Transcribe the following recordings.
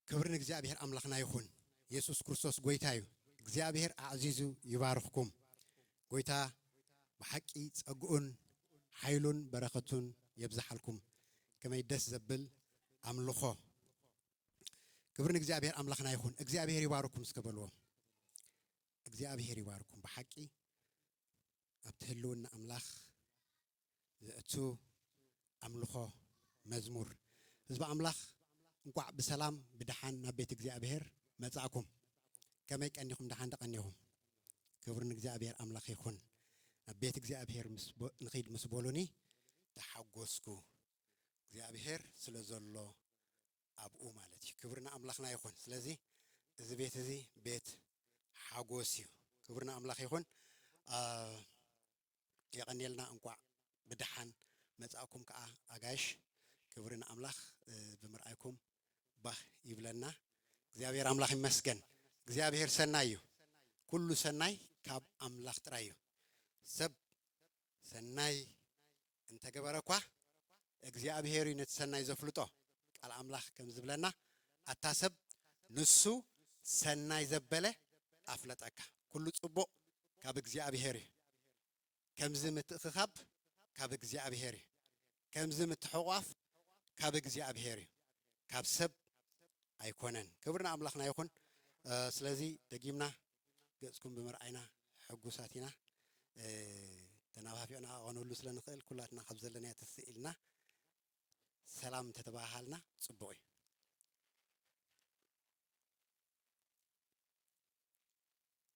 ክብሪ ንእግዚኣብሔር ኣምላኽና ይኹን የሱስ ክርስቶስ ጎይታ እዩ እግዚኣብሔር ኣዕዚዙ ይባርኽኩም ጎይታ ብሓቂ ጸግኡን ሓይሉን በረኸቱን የብዝሓልኩም ከመይ ደስ ዘብል ኣምልኾ ክብሪ ንእግዚኣብሔር ኣምላኽና ይኹን እግዚኣብሔር ይባርኩም እስከ በልዎም እግዚኣብሔር ይባርኩም ብሓቂ ኣብቲ ህልውና ኣምላኽ ዘእቱ ኣምልኾ መዝሙር። ህዝቢ ኣምላኽ እንቋዕ ብሰላም ብደሓን ናብ ቤት እግዚኣብሄር መጻእኩም። ከመይ ቀኒኹም ደሓን ዶ ቀኒኹም? ክብሪ ንእግዚኣብሄር ኣምላኽ ይኹን። ናብ ቤት እግዚኣብሄር ምስ በ ንኺድ ምስ በሉኒ ተሓጐስኩ። እግዚኣብሄር ስለ ዘሎ ኣብኡ ማለት እዩ ክብሪ ንኣምላኽና ይኹን ስለዚ እዚ ቤት እዚ ቤት ሓጎስ እዩ ክብሪ ንኣምላኽ ይኹን የቐንየልና እንቋዕ ብደሓን መጻእኩም ከዓ ኣጋይሽ ክብሪ ንኣምላኽ ብምርኣይኩም ባህ ይብለና እግዚኣብሔር ኣምላኽ ይመስገን እግዚኣብሔር ሰናይ እዩ ኩሉ ሰናይ ካብ ኣምላኽ ጥራይ እዩ ሰብ ሰናይ እንተገበረ እኳ እግዚኣብሄር እዩ ነቲ ሰናይ ዘፍልጦ ቃል ኣምላኽ ከም ዝብለና ኣታ ሰብ ንሱ ሰናይ ዘበለ ኣፍለጠካ ኩሉ ጽቡቕ ካብ እግዚኣብሄር እዩ ከምዚ ምትእኽኻብ ካብ እግዚኣብሄር እዩ ከምዚ ምትሕቋፍ ካብ እግዚኣብሔር እዩ ካብ ሰብ ኣይኮነን ክብር ንኣምላኽና ይኹን ስለዚ ደጊምና ገጽኩም ብምርኣይና ሕጉሳት ኢና ተናፋፊቕና ኣቐነሉ ስለ ንኽእል ኩላትና ካብ ዘለናዮ ትስእ ኢልና ሰላም እንተተባሃሃልና ጽቡቕ እዩ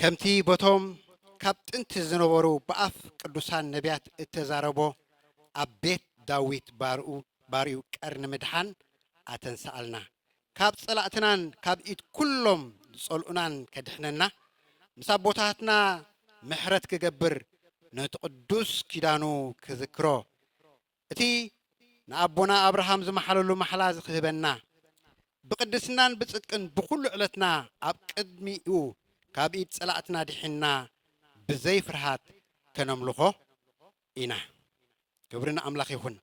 ከምቲ በቶም ካብ ጥንቲ ዝነበሩ ብኣፍ ቅዱሳን ነብያት እተዛረቦ ኣብ ቤት ዳዊት ባርኡ ባርዩ ቀርኒ ምድሓን ኣተንስኣልና ካብ ጸላእትናን ካብ ኢድ ኩሎም ዝጸልኡናን ከድሕነና ምስ ኣቦታትና ምሕረት ክገብር ነቲ ቅዱስ ኪዳኑ ክዝክሮ እቲ ንኣቦና ኣብርሃም ዝመሓለሉ ማሕላ እዚ ክህበና፣ ብቅድስናን ብጽድቅን ብኩሉ ዕለትና ኣብ ቅድሚኡ ካብ ኢድ ጸላእትና ድሒንና ብዘይ ፍርሃት ከነምልኾ ኢና። ክብሪ ንኣምላኽ ይኹን።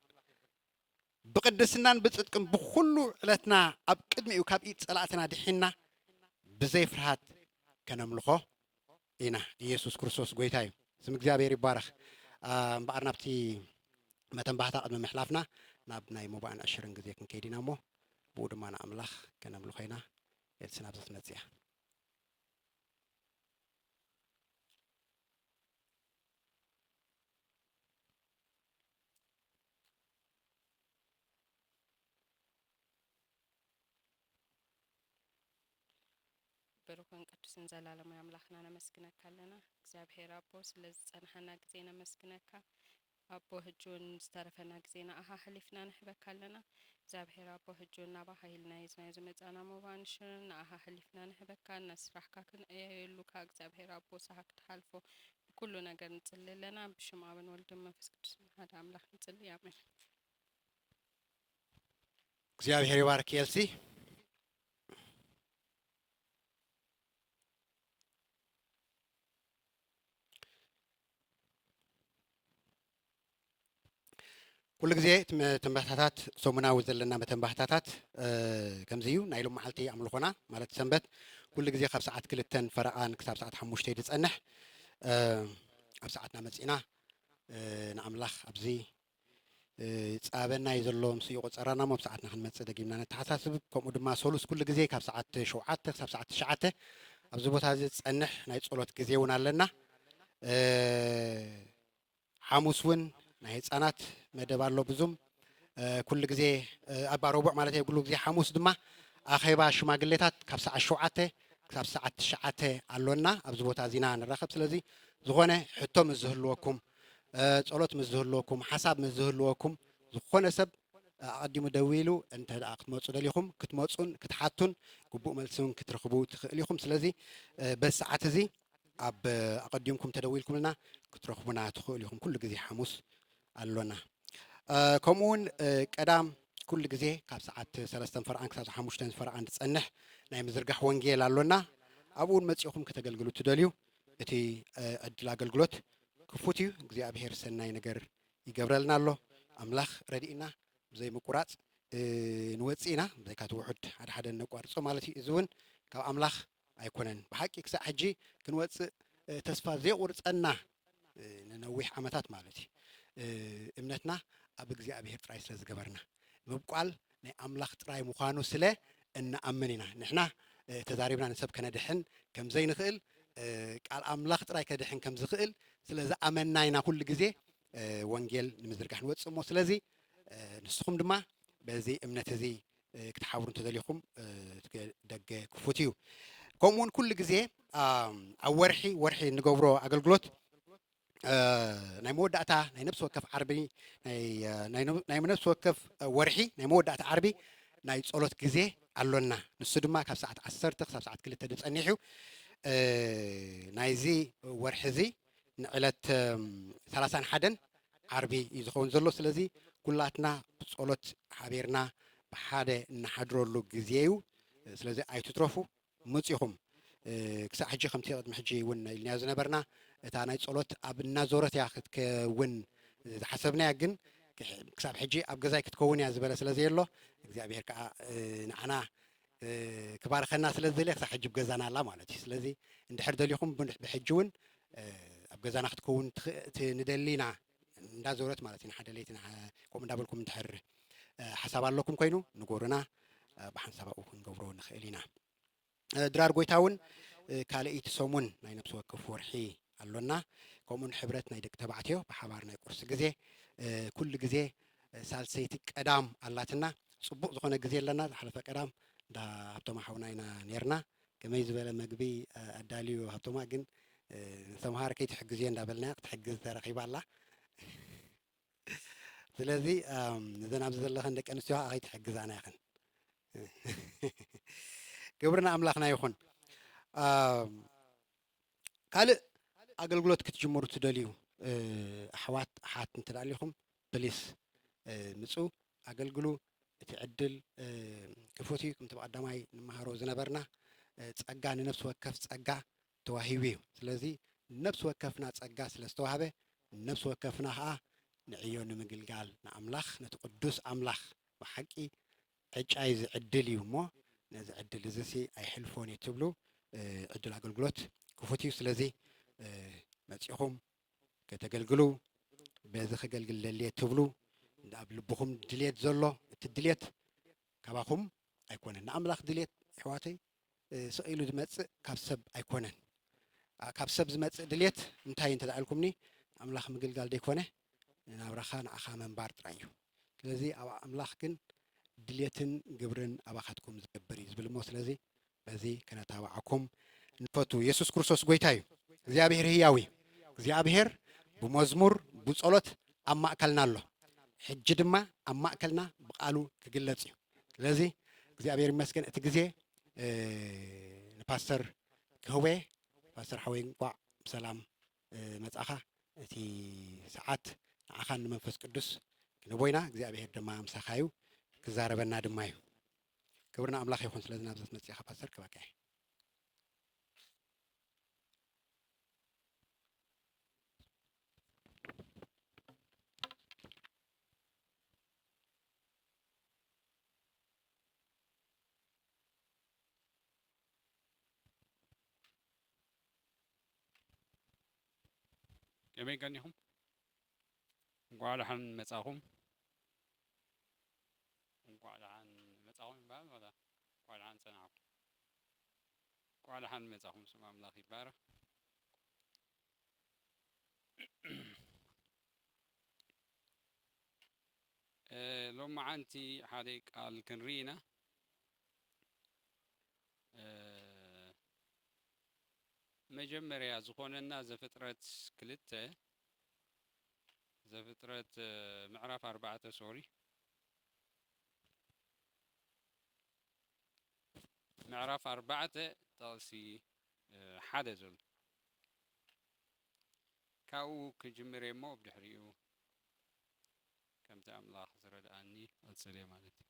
ብቅድስናን ብጽድቅን ብኩሉ ዕለትና ኣብ ቅድሚኡ ካብ ኢድ ጸላእትና ድሒንና ብዘይ ፍርሃት ከነምልኾ ኢና ኢየሱስ ክርስቶስ ጎይታ እዩ ስም እግዚኣብሔር ይባረኽ እምበኣር ናብቲ መተን ባህታ ቅድሚ ምሕላፍና ናብ ናይ ሙባእን ዕሽርን ግዜ ክንከይድ ኢና እሞ ብኡ ድማ ንኣምላኽ ከነምልኾ ኢና ኤልሲ ናብዚ ትመጽእ እያ ብሩኽን ቅዱስን ዘላለማዊ ኣምላኽና ነመስግነካ ኣለና እግዚኣብሔር ኣቦ ስለዚ ዝጸናሓና ግዜ ነመስግነካ ኣቦ ህጂ ውን ዝተረፈና ግዜ ንኣኻ ኣሕሊፍና ንህበካ ኣለና እግዚኣብሔር ኣቦ ህጂ ውን ናባኻ ኢልና ሒዝናዮ ዝመጻና ሞባን ንሽርን ንኣኻ ኣሕሊፍና ንህበካ ነስራሕካ ክንዕየየሉ ካኣ እግዚኣብሔር ኣቦ ሳሃ ክትሓልፎ ብኩሉ ነገር ንጽሊ ኣለና ብሽም ኣብን ወልድን መንፈስ ቅዱስን ሓደ ኣምላኽ ንጽሊ ኣሜን። እግዚኣብሔር ይባርክ ኤልሲ። ኩሉ ግዜ እቲ መተንባህታታት ሰሙናዊ ዘለና መተንባህታታት እ፣ ከምዚ እዩ ናይ ሎም መዓልቲ ኣምልኾና ማለት ሰንበት ኩሉ ግዜ ካብ ሰዓት ክልተን ፈረቓን ክሳብ ሰዓት ሓሙሽተ እዩ ዝጸንሕ እ፣ ኣብ ሰዓትና መጺእና እ፣ ንኣምላኽ ኣብዚ ጻበና እዩ ዘሎ ምስ ይቁጸራና እሞ ኣብ ሰዓትና ክንመጽእ ደጊምና ነተሓሳስብ ከምኡ ድማ ሰሉስ ኩሉ ግዜ ካብ ሰዓት ሸውዓተ ክሳብ ሰዓት ትሽዓተ ኣብዚ ቦታ እዚ ዝጸንሕ ናይ ጸሎት ግዜ እውን ኣለና ሓሙስ እውን ናይ ህጻናት መደብ ኣሎ ብዙም ኩሉ ግዜ ኣብ ረቡዕ ማለት እየ ኩሉ ግዜ ሓሙስ ድማ ኣኼባ ሽማግሌታት ካብ ሰዓት ሸውዓተ ክሳብ ሰዓት ትሽዓተ ኣሎና ኣብዚ ቦታ እዚና ንራኸብ ስለዚ ዝኾነ ሕቶ ምስ ዝህልወኩም ጸሎት ምስ ዝህልወኩም ሓሳብ ምስ ዝህልወኩም ዝኾነ ሰብ ኣቐዲሙ ደዊሉ እንተ ደኣ ክትመጹ ደሊኹም ክትመጹን ክትሓቱን ግቡእ መልሲ እውን ክትረኽቡ ትኽእሉ ኢኹም። ስለዚ በዚ ሰዓት እዚ ኣብ ኣቐዲምኩም ተደዊልኩምልና ክትረኽቡና ትኽእሉ ኢኹም። ኩሉ ግዜ ሓሙስ ኣሎና። ከምኡ እውን ቀዳም ኩሉ ግዜ ካብ ሰዓት ሰለስተን ፈርቓን ክሳብ ሓሙሽተን ፈርቓን ዝጸንሕ ናይ ምዝርጋሕ ወንጌል ኣሎና። ኣብኡ እውን መጺኹም ከተገልግሉ ትደልዩ እቲ ዕድል ኣገልግሎት ክፉት እዩ እግዚኣብሔር ሰናይ ነገር ይገብረልና ኣሎ ኣምላኽ ረዲእና ብዘይ ምቁራጽ ንወጽእ ኢና ብዘይካ እቲ ውሑድ ሓደ ሓደ እነቋርጾ ማለት እዩ እዚ እውን ካብ ኣምላኽ ኣይኮነን ብሓቂ ክሳዕ ሕጂ ክንወጽእ ተስፋ ዘይቁርጸና ንነዊሕ ዓመታት ማለት እዩ እምነትና ኣብ እግዚኣብሔር ጥራይ ስለ ዝገበርና ምብቋል ናይ ኣምላኽ ጥራይ ምዃኑ ስለ እንኣምን ኢና። ንሕና ተዛሪብና ንሰብ ከነድሕን ከም ዘይንኽእል፣ ቃል ኣምላኽ ጥራይ ከድሕን ከም ዝኽእል ስለ ዝኣመንና ኢና ኩሉ ግዜ ወንጌል ንምዝርጋሕ ንወጽእ እሞ ስለዚ ንስኹም ድማ በዚ እምነት እዚ ክትሓብሩ እንተደሊኹም እቲ ደገ ክፉት እዩ። ከምኡውን ኩሉ ግዜ ኣብ ወርሒ ወርሒ እንገብሮ ኣገልግሎት ናይ መወዳእታ ናይ ነብሲ ወከፍ ዓርቢ ናይ ነብሲ ወከፍ ወርሒ ናይ መወዳእታ ዓርቢ ናይ ጸሎት ግዜ ኣሎና ንሱ ድማ ካብ ሰዓት ዓሰርተ ክሳብ ሰዓት ክልተ ድዩ ጸኒሑ ናይዚ ወርሒ እዚ ንዕለት ሰላሳን ሓደን ዓርቢ እዩ ዝኸውን ዘሎ ስለዚ ኩላትና ብጸሎት ሓቢርና ብሓደ እንሓድረሉ ግዜ እዩ ስለዚ ኣይትትረፉ መጺኹም ክሳዕ ሕጂ ከምቲ ቅድሚ ሕጂ ውን ኢልናዮ ዝነበርና እታ ናይ ጸሎት ኣብ እናዞረት እያ ክትከውን ዝሓሰብናያ ግን ክሳብ ሕጂ ኣብ ገዛይ ክትከውን እያ ዝበለ ስለ ዘየሎ እግዚኣብሄር ከኣ ንዓና ክባርኸና ስለ ዝደልየ ክሳብ ሕጂ ብ ገዛና ኣላ ማለት እዩ ስለዚ እንድሕር ደሊኹም ብሕጂ ውን ኣብ ገዛና ክትከውን ንደሊ ኢና እንዳዞረት ማለት እዩ ንሓደ ለይቲ ከምኡ እንዳበልኩም እንድሕር ሓሳብ ኣለኩም ኮይኑ ንጎርና ብሓንሳብ ኣብኡ ክንገብሮ ንኽእል ኢና ድራር ጎይታ እውን ካልእይቲ ሰሙን ናይ ነብሲ ወከፍ ወርሒ ኣሎና ከምኡ ንሕብረት ናይ ደቂ ተባዕትዮ ብሓባር ናይ ቁርሲ ግዜ ኩሉ ግዜ ሳልሰይቲ ቀዳም ኣላትና ፅቡቅ ዝኾነ ግዜ ኣለና ዝሓለፈ ቀዳም እንዳ ሃብቶም ሓውና ኢና ነርና ከመይ ዝበለ መግቢ ኣዳልዩ ሃብቶማ ግን ንሰምሃር ከይትሕግዝዮ እንዳበልናያ ክትሕግዝ ተረኺባ ኣላ ስለዚ እዘን ኣብዚ ዘለኸን ደቂ ኣንስትዮ ከዓ ከይትሕግዛና ኢኽን ክብሪ ንኣምላኽና ይኹን ካልእ ኣገልግሎት ክትጅምሩ ትደልዩ ኣሕዋት ኣሓት እንተ ኣሊኹም ፕሊስ ምጹ ኣገልግሉ እቲ ዕድል ክፉት እዩ ክምቲ ብቀዳማይ ንማሃሮ ዝነበርና ጸጋ ንነፍሲ ወከፍ ጸጋ ተዋሂቡ እዩ ስለዚ ነፍሲ ወከፍና ጸጋ ስለ ዝተዋህበ ነፍሲ ወከፍና ከኣ ንዕዮ ንምግልጋል ንኣምላኽ ነቲ ቅዱስ ኣምላኽ ብሓቂ ዕጫይ እዚ ዕድል እዩ እሞ ነዚ ዕድል እዚ ሲ ኣይሕልፎን እዩ ትብሉ ዕድል ኣገልግሎት ክፉት እዩ ስለዚ መጺኹም ከተገልግሉ በዚ ከገልግል ደልየ እትብሉ ኣብ ልብኹም ድልየት ዘሎ እቲ ድልየት ካባኹም ኣይኮነን ናይ ኣምላኽ ድልየት ኣሕዋተይ ስቕ ኢሉ ዝመጽእ ካብ ሰብ ኣይኮነን ካብ ሰብ ዝመጽእ ድልየት እንታይ እንተ ኢልኩምኒ ኣምላኽ ምግልጋል ዘይኮነ ናብራኻ ንዓኻ ምንባር ጥራይ እዩ ስለዚ ኣብ ኣምላኽ ግን ድልየትን ግብርን ኣባኻትኩም ዝገብር እዩ ዝብል እሞ ስለዚ በዚ ክነታባዓኩም ንፈቱ የሱስ ክርስቶስ ጎይታ እዩ እግዚኣብሄር ህያው እዩ እግዚኣብሄር ብመዝሙር ብጾሎት ኣብ ማእከልና ኣሎ ሕጂ ድማ ኣብ ማእከልና ብቃሉ ክግለጽ እዩ ስለዚ እግዚኣብሄር ይመስገን እቲ ግዜ ንፓስተር ክህቦየ ፓስተር ሓወይ እንቋዕ ብሰላም መጻኻ እቲ ሰዓት ንዓኻን ንመንፈስ ቅዱስ ክንህቦ ኢና እግዚኣብሄር ድማ ምሳኻ እዩ ክዛረበና ድማ እዩ ክብር ንኣምላኽ ይኹን ስለዚ ናብዘት መጺእኻ ፓስተር ክባኬ። ከመይ ቀኒኹም እንኳዕ ደሓን መጻኹም እንኳዕ ደሓን መፃኹም ይበሃል ዋላ እንኳዕ ደሓን ፀናሕኩም? እንኳዕ ደሓን መፃኹም ስም ኣምላኽ ይባረኽ። ሎማዓንቲ ሓደ ቃል ክንርኢ ኢና መጀመርያ ዝኾነና ዘፍጥረት ክልተ ዘፍጥረት ምዕራፍ ኣርባዕተ ሶሪ ምዕራፍ ኣርባዕተ ጠቕሲ ሓደ ዘሎ ካብኡ ክጅምር እየ እሞ ብ ድሕሪኡ ከምቲ ኣምላኽ ዝረድኣኒ ቐፅል እየ ማለት እዩ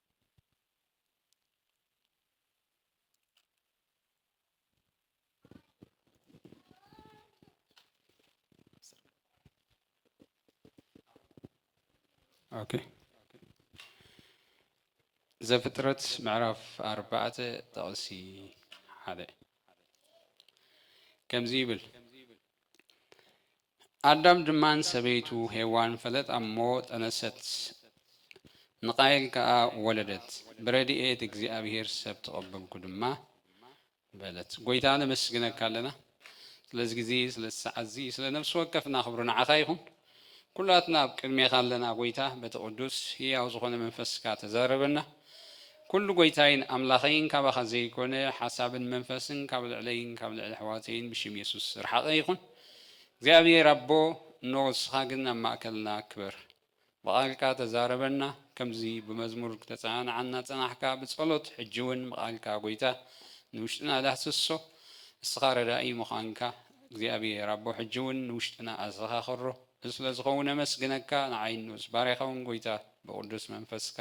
ኦኬ ዘፍጥረት ምዕራፍ ኣርባዕተ ጥቕሲ ሓደ ከምዚ ይብል ኣዳም ድማ ንሰበይቱ ሄዋን ፈለጣ እሞ ጠነሰት፣ ንቃየል ከኣ ወለደት፣ ብረድኤት እግዚኣብሄር ሰብ ተቐበልኩ ድማ በለት። ጎይታ ነመስግነካ ኣለና ስለዚ ግዜ ስለዚ ሰዓት እዚ ስለ ነፍሲ ወከፍና ክብሪ ንዓኻ ይኹን። ኩላትና ኣብ ቅድሜኻ ኣለና ጎይታ በቲ ቅዱስ ህያው ዝኾነ መንፈስካ ተዛረበና ኩሉ ጎይታይን ኣምላኸይን ካባኻ ዘይኮነ ሓሳብን መንፈስን ካብ ልዕለይን ካብ ልዕሊ ኣሕዋተይን ብሽም የሱስ ዝረሓቐ ይኹን። እግዚኣብሔር ኣቦ እኖ ንስኻ ግን ኣብ ማእከልና ክበር ብቓልካ ተዛረበና ከምዚ ብመዝሙር ክተጸናንዓ እናጸናሕካ ብጸሎት ሕጂ ውን ብቓልካ ጎይታ ንውሽጥና ዳህስሶ እስኻ ረዳኢ ምዃንካ እግዚኣብሔር ኣቦ ሕጂ ውን ንውሽጥና ኣዘኻኽሮ እዚ ስለ ዝኸውን ኣመስግነካ ንዓይን ንኡስ ባርያኻ ውን ጎይታ ብቕዱስ መንፈስካ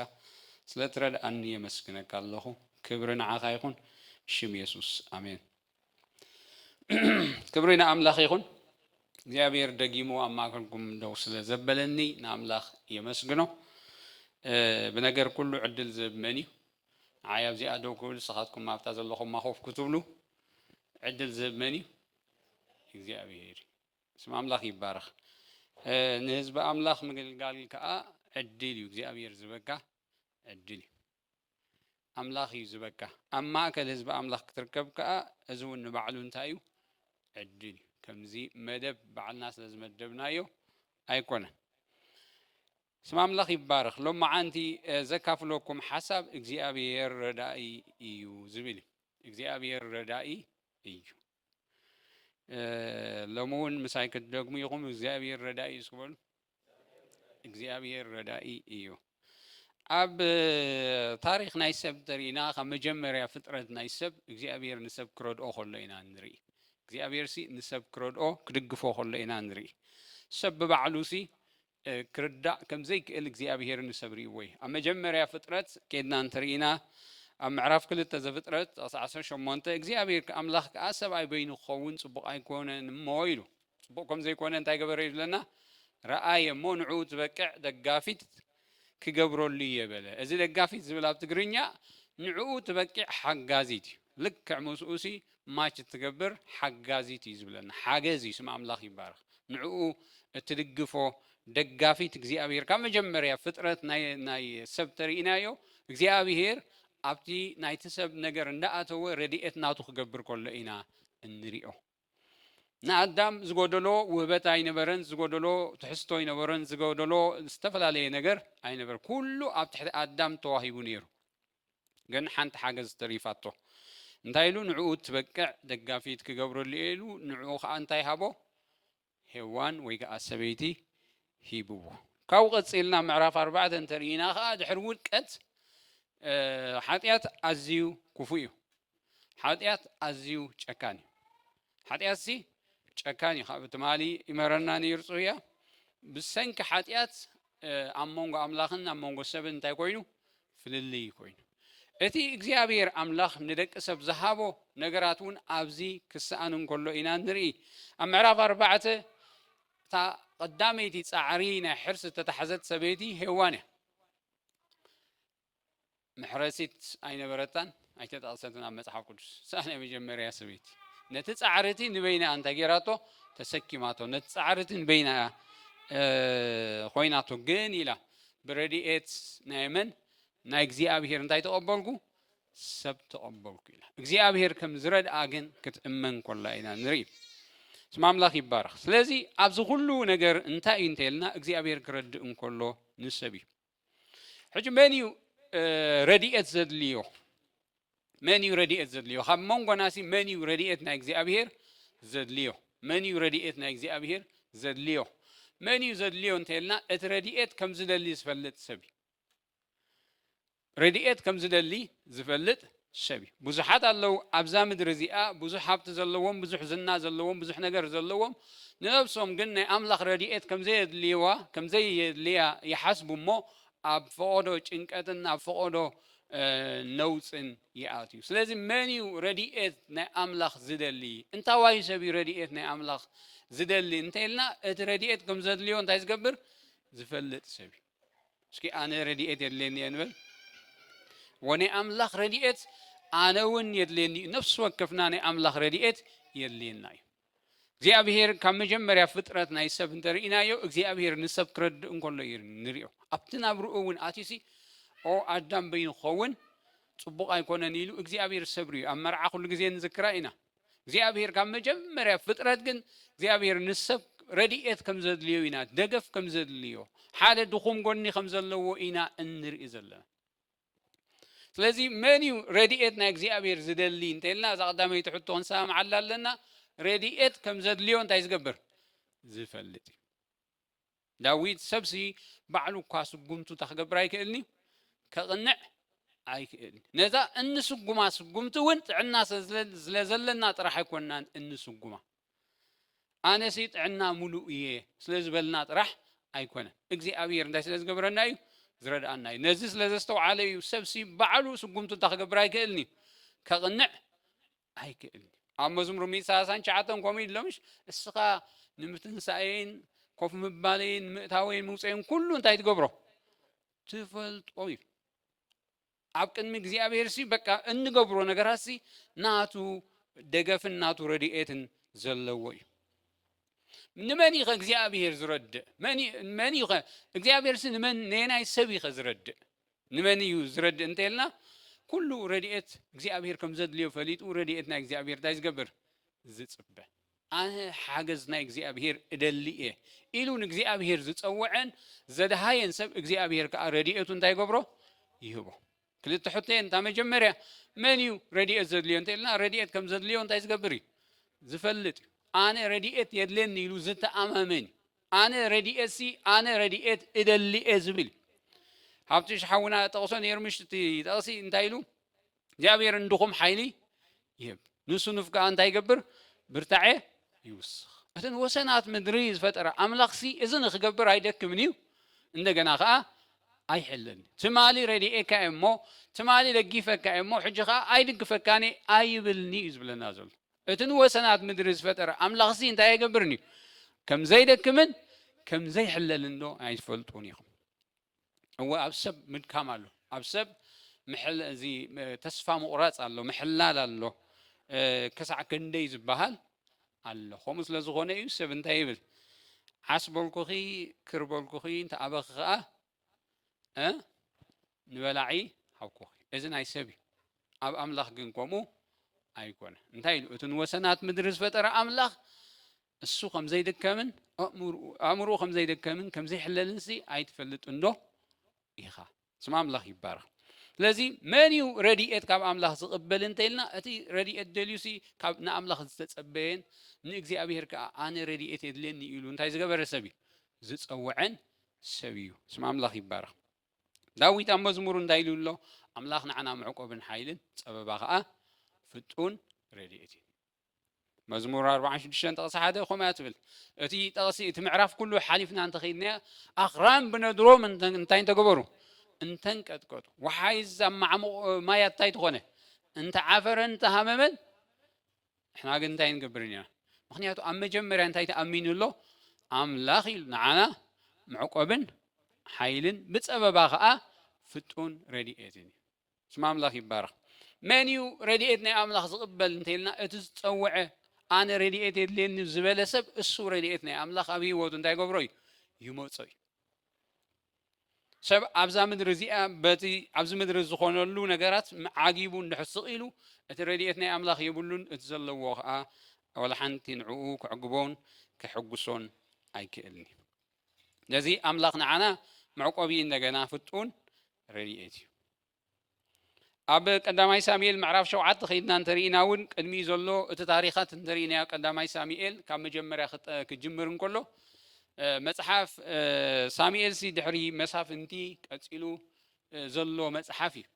ስለ ትረድኣኒ የመስግነካ ኣለኹ ክብሪ ንዓኻ ይኹን ብሽም የሱስ ኣሜን። ክብሪ ንኣምላኽ ይኹን። እግዚኣብሔር ደጊሙ ኣብ ማእከልኩም ደው ስለ ዘበለኒ ንኣምላኽ የመስግኖ። ብነገር ኩሉ ዕድል ዝህብ መን እዩ? ንዓይ ኣብዚኣ ደው ክብል ንስኻትኩም ኣብታ ዘለኹማ ኮፍ ክትብሉ ዕድል ዝህብ መን እዩ? እግዚኣብሔር እዩ። ስም ኣምላኽ ይባረኽ። ንህዝቢ ኣምላኽ ምግልጋል ከዓ ዕድል እዩ። እግዚኣብሔር ዝበካ ዕድል እዩ። ኣምላኽ እዩ ዝበካ ኣብ ማእከል ህዝቢ ኣምላኽ ክትርከብ ከኣ እዚ እውን ንባዕሉ እንታይ እዩ ዕድል እዩ ከምዚ መደብ ባዕልና ስለ ዝመደብናዮ ኣይኮነን ስም ኣምላኽ ይባረኽ ሎም መዓንቲ ዘካፍለኩም ሓሳብ እግዚኣብሔር ረዳኢ እዩ ዝብል እዩ እግዚኣብሔር ረዳኢ እዩ ሎሚ እውን ምሳይ ክትደግሙ ኢኹም እግዚኣብሔር ረዳኢ እዩ ስበሉ እግዚኣብሔር ረዳኢ እዩ ኣብ ታሪክ ናይ ሰብ ተሪእና ካብ መጀመርያ ፍጥረት ናይ ሰብ እግዚኣብሔር ንሰብ ክረድኦ ከሎ ኢና ንርኢ እግዚኣብሔር ሲ ንሰብ ክረድኦ ክድግፎ ከሎ ኢና ንርኢ ሰብ ብባዕሉ ሲ ክርዳእ ከም ዘይክእል እግዚኣብሄር ንሰብ ርእይዎ እዩ። ኣብ መጀመርያ ፍጥረት ኬድና እንተ ርኢና፣ ኣብ ምዕራፍ ክልተ ዘፍጥረት ጥቕሲ ዓሰርተ ሸሞንተ፣ እግዚኣብሄር ኣምላኽ ከኣ ሰብኣይ በይኑ ክኸውን ጽቡቕ ኣይኮነን እሞ ኢሉ። ጽቡቕ ከም ዘይኮነ እንታይ ገበረ እዩ ዝብለና? ረኣየ እሞ ንዕኡ ዝበቅዕ ደጋፊት ክገብረሉ እየ በለ። እዚ ደጋፊት ዝብል ኣብ ትግርኛ ንዕኡ ትበቂዕ ሓጋዚት እዩ። ልክዕ ምስኡሲ ማች እትገብር ሓጋዚት እዩ ዝብለና ሓገዝ እዩ ስም ኣምላኽ ይባረኽ ንዕኡ እትድግፎ ደጋፊት እግዚኣብሄር ካብ መጀመርያ ፍጥረት ናይ ሰብ ተርእናዮ እግዚኣብሄር ኣብቲ ናይቲ ሰብ ነገር እንዳኣተወ ረድኤት ናቱ ክገብር ከሎ ኢና እንሪኦ ንኣዳም ዝጎደሎ ውህበት ኣይነበረን ዝጎደሎ ትሕዝቶ ኣይነበረን ዝጎደሎ ዝተፈላለየ ነገር ኣይነበረ ኩሉ ኣብ ትሕቲ ኣዳም ተዋሂቡ ነይሩ ግን ሓንቲ ሓገዝ ተሪፋቶ እንታይ ኢሉ ንዕኡ ትበቅዕ ደጋፊት ክገብረሉ እየ ኢሉ ንዕኡ ከዓ እንታይ ሃቦ ሄዋን ወይ ከዓ ሰበይቲ ሂብዎ ካብኡ ቀፂልና ምዕራፍ ኣርባዕተ እንተሪኢና ከዓ ድሕሪ ውድቀት ሓጢኣት ኣዝዩ ክፉእ እዩ ሓጢኣት ኣዝዩ ጨካን እዩ ሓጢኣት ሲ ጨካን እዩ ካብ ትማሊ ይመረና ነይሩ ጽሩያ ብሰንኪ ሓጢኣት ኣብ መንጎ ኣምላኽን ኣብ መንጎ ሰብን እንታይ ኮይኑ ፍልልይ ኮይኑ እቲ እግዚኣብሔር ኣምላኽ ንደቂ ሰብ ዝሃቦ ነገራት እውን ኣብዚ ክስኣን እንከሎ ኢና ንርኢ ኣብ ምዕራፍ ኣርባዕተ እታ ቀዳመይቲ ፃዕሪ ናይ ሕርሲ ዝተታሕዘት ሰበይቲ ሄዋን እያ መሕረሲት ኣይነበረታን፣ ኣይተጠቕሰትን ኣብ መጽሓፍ ቅዱስ። እሳ ናይ መጀመርያ ሰበይቲ ነቲ ጻዕሪ እቲ ንበይና እያ እንታይ ጌራቶ ተሰኪማቶ፣ ነቲ ጻዕሪ እቲ ንበይና እያ ኾይናቶ። ግን ኢላ ብረድኤት ናይ መን ናይ እግዚኣብሄር እንታይ ተቐበልኩ ሰብ ተቐበልኩ ኢና እግዚኣብሄር ከም ዝረድኣ ግን ክትእመን ኮላ ኢና ንርኢ ስም ኣምላኽ ይባረኽ ስለዚ ኣብዚ ኩሉ ነገር እንታይ እዩ እንተልና እግዚኣብሄር ክረድእ እንከሎ ንሰብ እዩ ሕጂ መን እዩ ረድኤት ዘድልዮ መን እዩ ረድኤት ዘድልዮ ካብ መንጎናሲ መን እዩ ረድኤት ናይ እግዚኣብሄር ዘድልዮ መን እዩ ረድኤት ናይ እግዚኣብሄር ዘድልዮ መን እዩ ዘድልዮ እንተልና እቲ ረድኤት ከም ዝደሊ ዝፈልጥ ሰብ እዩ ረድኤት ከም ዝደሊ ዝፈልጥ ሰብ እዩ ብዙሓት ኣለዉ ኣብዛ ምድሪ እዚኣ ብዙሕ ሃብቲ ዘለዎም ብዙሕ ዝና ዘለዎም ብዙሕ ነገር ዘለዎም ንነብሶም ግን ናይ ኣምላኽ ረድኤት ከምዘየድልይዋ ከምዘየድልያ ይሓስቡ እሞ ኣብ ፈቖዶ ጭንቀትን ኣብ ፈቖዶ ነውፅን ይኣትዩ ስለዚ መን እዩ ረድኤት ናይ ኣምላኽ ዝደሊ እንታዋይ ሰብ እዩ ረድኤት ናይ ኣምላኽ ዝደሊ እንተይልና እቲ ረድኤት ከምዘድልዮ እንታይ ዝገብር ዝፈልጥ ሰብ እዩ እስኪ ኣነ ረድኤት የድልየኒ እየ ንበል ወናይ ኣምላኽ ረድኤት ኣነ እውን የድልየኒ እዩ ነፍሲ ወከፍና ናይ ኣምላኽ ረድኤት የድልየና እዩ እግዚኣብሄር ካብ መጀመርያ ፍጥረት ናይ ሰብ እንተርኢናዮ እግዚኣብሄር ንሰብ ክረድእ እንከሎ እዩ ንሪኦ ኣብቲ ናብርኡ እውን ኣትሲ ኦ ኣዳም በይኑ ክኸውን ፅቡቕ ኣይኮነን ኢሉ እግዚኣብሄር ሰብሪ እዩ ኣብ መርዓ ኩሉ ግዜ ንዝክራ ኢና እግዚኣብሔር ካብ መጀመርያ ፍጥረት ግን እግዚኣብሔር ንሰብ ረድኤት ከም ዘድልዮ ኢና ደገፍ ከም ዘድልዮ ሓደ ድኹም ጎኒ ከም ዘለዎ ኢና እንርኢ ዘለና ስለዚ መን እዩ ረድኤት ናይ እግዚኣብሔር ዝደሊ እንተልና እዛ ቀዳመይቲ ሕቶ ክንሰማምዓላ ኣለና ረድኤት ከም ዘድልዮ እንታይ ዝገብር ዝፈልጥ እዩ ዳዊት ሰብሲ ባዕሉ እኳ ስጉምቱታ ክገብር ኣይክእልንዩ ከቕንዕ ኣይክእል ነዛ እንስጉማ ስጉምቲ እውን ጥዕና ስለዘለና ጥራሕ ኣይኮንናን እንስጉማ ኣነሲ ጥዕና ሙሉእ እየ ስለዝበልና ጥራሕ ኣይኮነን እግዚኣብሔር እንታይ ስለዝገብረና እዩ ዝረድኣና እዩ ነዚ ስለዘስተውዓለ እዩ ሰብሲ ባዕሉ ስጉምቱታ ክገብር ኣይክእልንዩ ከቕንዕ ኣይክእልንዩ ኣብ መዝሙር ሚእቲ ሰላሳን ትሽዓተን ከምኡ እዩ ድሎምሽ እስኻ ንምትንሳኤን ኮፍ ምባሌን ምእታወይን ምውፀይን ኩሉ እንታይ ትገብሮ ትፈልጦ እዩ ኣብ ቅድሚ እግዚኣብሔር ሲ በቃ እንገብሮ ነገራት ሲ ናቱ ደገፍን ናቱ ረድኤትን ዘለዎ እዩ ንመን ኢኸ እግዚኣብሔር ዝረድእ መን ኢኸ እግዚኣብሔር ሲ ንመን ነየናይ ሰብ ኢኸ ዝረድእ ንመን እዩ ዝረድእ እንተ ኢልና ኩሉ ረድኤት እግዚኣብሄር ከም ዘድልዮ ፈሊጡ ረድኤት ናይ እግዚኣብሄር እንታይ ዝገብር ዝጽበ ኣነ ሓገዝ ናይ እግዚኣብሄር እደሊ እየ ኢሉ ንእግዚኣብሄር ዝጸወዐን ዘድሃየን ሰብ እግዚኣብሄር ከኣ ረድኤቱ እንታይ ይገብሮ ይህቦ ክልተ ሕቶ እየን እታ መጀመርያ መን እዩ ረድኤት ዘድልዮ እንተ ኢልና ረድኤት ከም ዘድልዮ እንታይ ዝገብር እዩ ዝፈልጥ እዩ ኣነ ረድኤት የድልየኒ ኢሉ ዝተኣማመን እዩ ኣነ ረዲኤትሲ ኣነ ረዲኤት እደሊ እየ ዝብል ሃብትሽ ሓውና ጠቕሶ ነይሩ ምሽ እቲ ጠቕሲ እንታይ ኢሉ እግዚኣብሔር እንድኹም ሓይሊ ይህብ ንሱ ንፍጋኣ እንታይ ይገብር ብርታዐ ይውስኽ እተን ወሰናት ምድሪ ዝፈጠረ ኣምላኽሲ እዚ ንክገብር ኣይደክምን እዩ እንደገና ከዓ ኣይሕልን ትማሊ ረድኤካ እየ እሞ ትማሊ ለጊፈካ እየ እሞ ሕጂ ከዓ ኣይድግፈካኒ ኣይብልኒ እዩ ዝብለና ዘሎ እቲ ንወሰናት ምድሪ ዝፈጠረ ኣምላኽሲ እንታይ ኣይገብርን እዩ? ከም ዘይደክምን ከም ዘይሕለልንዶ ኣይትፈልጡን ኢኹም? እወ ኣብ ሰብ ምድካም ኣሎ፣ ኣብ ሰብ እዚ ተስፋ ምቑራጽ ኣሎ፣ ምሕላል ኣሎ፣ ክሳዕ ክንደይ ዝበሃል ኣሎ። ከምኡ ስለ ዝኾነ እዩ ሰብ እንታይ ይብል? ዓስበልኩኺ ክርበልኩኺ እንተኣበኺ ኸኣ ንበላዒ ሃብኩኺ እዚ ናይ ሰብ እዩ ኣብ ኣምላኽ ግን ከምኡ ኣይኮነ እንታይ ኢሉ እቲ ንወሰናት ምድሪ ዝፈጠረ ኣምላኽ እሱ ከም ዘይድከምን ኣእምሮ ከም ዘይደከምን ከም ዘይሕለልን ሲ ኣይትፈልጥ እንዶ ኢኻ ስም ኣምላኽ ይባረኽ ስለዚ መን እዩ ረድኤት ካብ ኣምላኽ ዝቕበል እንተኢልና እቲ ረድኤት ደልዩሲ ካብ ንኣምላኽ ዝተጸበየን ንእግዚኣብሔር ከዓ ኣነ ረድኤት የድልየኒ ኢሉ እንታይ ዝገበረ ሰብ እዩ ዝጸውዐን ሰብ እዩ። ስም ኣምላኽ ይባረኽ። ዳዊት ኣብ መዝሙሩ እንታይ ኢሉ ኣሎ? ኣምላኽ ንዓና መዕቆብን ሓይልን፣ ጸበባ ኸኣ ፍጡን ረድኤት እዩ። መዝሙር ኣርብዓን ሽዱሽተን ጥቕሲ ሓደ ከምኡ እያ ትብል። እቲ ጥቕሲ እቲ ምዕራፍ ኩሉ ሓሊፍና እንተኸይድና ኣኽራን ብነድሮም እንተ- እንታይ እንተገበሩ እንተንቀጥቀጡ ወሓይዝ ኣብ ማዕሙቕ ማያት እንታይ ተኾነ እንተዓፈረን እንተሃመመን ንሕና ግን እንታይ ንገብር ኢና ምክንያቱ ኣብ መጀመርያ እንታይ ተኣሚኑ ኣሎ ኣምላኽ ኢሉ ንዓና መዕቆብን ሓይልን ብፀበባ ከዓ ፍጡን ረድኤትን እዩ ስም ኣምላኽ ይባረኽ መን እዩ ረድኤት ናይ ኣምላኽ ዝቕበል እንተይልና እቲ ዝፀውዐ ኣነ ረድኤት የድልየኒ ዝበለ ሰብ እሱ ረድኤት ናይ ኣምላኽ ኣብ ህይወቱ እንታይ ገብሮ እዩ ይመፆ እዩ ሰብ ኣብዛ ምድሪ እዚኣ በቲ ኣብዚ ምድሪ ዝኾነሉ ነገራት ዓጊቡ እንድሕር ስቕ ኢሉ እቲ ረድኤት ናይ ኣምላኽ የብሉን እቲ ዘለዎ ከዓ ወላ ሓንቲ ንዕኡ ክዕግቦን ክሕጉሶን ኣይክእልን እዩ ነዚ ኣምላኽ ንዓና መዕቆቢ እንደገና ፍጡን ረድኤት እዩ ኣብ ቀዳማይ ሳሙኤል ምዕራፍ ሸውዓተ ከይድና እንተሪኢና እውን ቅድሚኡ ዘሎ እቲ ታሪኻት እንተሪኢናዮ ቀዳማይ ሳሙኤል ካብ መጀመርያ ክጅምር እንከሎ መፅሓፍ ሳሙኤልሲ ድሕሪ መሳፍንቲ ቀፂሉ ዘሎ መፅሓፍ እዩ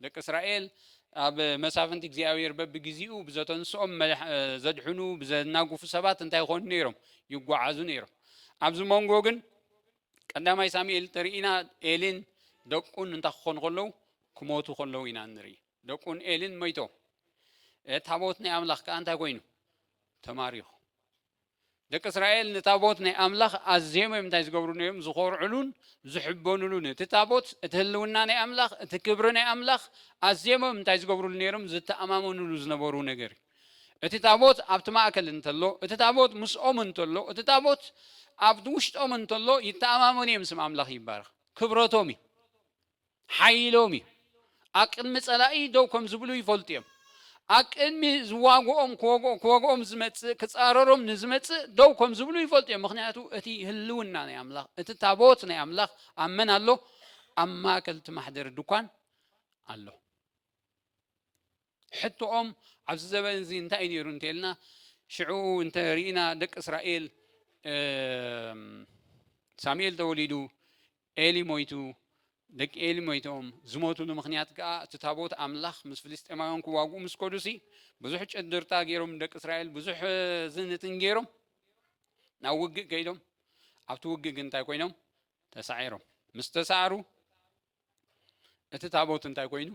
ደቂ እስራኤል ኣብ መሳፍንቲ እግዚኣብሔር በብግዜኡ ብዘተንስኦም ዘድሕኑ ብዘናጉፉ ሰባት እንታይ ይኾኑ ነይሮም ይጓዓዙ ነይሮም ኣብዚ መንጎ ግን ቀዳማይ ሳሙኤል ተሪኢና ኤሊን ደቁን እንታይ ክኾኑ ከለዉ ክሞቱ ከለዉ ኢና ንርኢ ደቁን ኤሊን መይቶ ታቦት ናይ ኣምላኽ ከዓ እንታይ ኮይኑ ተማሪኹ ደቂ እስራኤል ንታቦት ናይ ኣምላኽ ኣዝዮም እዮም እንታይ ዝገብሩ ነዮም ዝኾርዕሉን ዝሕበኑሉን እቲ ታቦት እቲ ህልውና ናይ ኣምላኽ እቲ ክብሪ ናይ ኣምላኽ ኣዝዮም እዮም እንታይ ዝገብሩሉ ነይሮም ዝተኣማመኑሉ ዝነበሩ ነገር እዩ እቲ ታቦት ኣብቲ ማእከል እንተሎ፣ እቲ ታቦት ምስኦም እንተሎ፣ እቲ ታቦት ኣብ ውሽጦም እንተሎ ይተኣማመኑ እዮም፣ ስም ኣምላኽ ይባረኽ፣ ክብረቶም እዩ፣ ሓይሎም እዩ፣ ኣብ ቅድሚ ጸላኢ ደው ከም ዝብሉ ይፈልጡ እዮም፣ ኣብ ቅድሚ ዝዋግኦም ክወግኦም ዝመጽእ ክጻረሮም ንዝመጽእ ደው ከም ዝብሉ ይፈልጡ እዮም፣ ምኽንያቱ እቲ ህልውና ናይ ኣምላኽ እቲ ታቦት ናይ ኣምላኽ ኣብ መን ኣሎ? ኣብ ማእከል እቲ ማሕደሪ ድኳን ኣሎ። ሕቶኦም ኣብዚ ዘበን እዚ እንታይ እዩ ነይሩ እንተልና ሽዑ እንተ ርኢና ደቂ እስራኤል ሳሙኤል ተወሊዱ ኤሊ ሞይቱ ደቂ ኤሊ ሞይቶም ዝሞትሉ ምክንያት ከዓ እቲ ታቦት ኣምላኽ ምስ ፍልስጤማውያን ክዋግኡ ምስ ከዱሲ ብዙሕ ጨድርታ ገይሮም ደቂ እስራኤል ብዙሕ ዝንትን ገይሮም ናብ ውግእ ከይዶም ኣብቲ ውግእ ግን እንታይ ኮይኖም ተሳዒሮም ምስ ተሳዕሩ እቲ ታቦት እንታይ ኮይኑ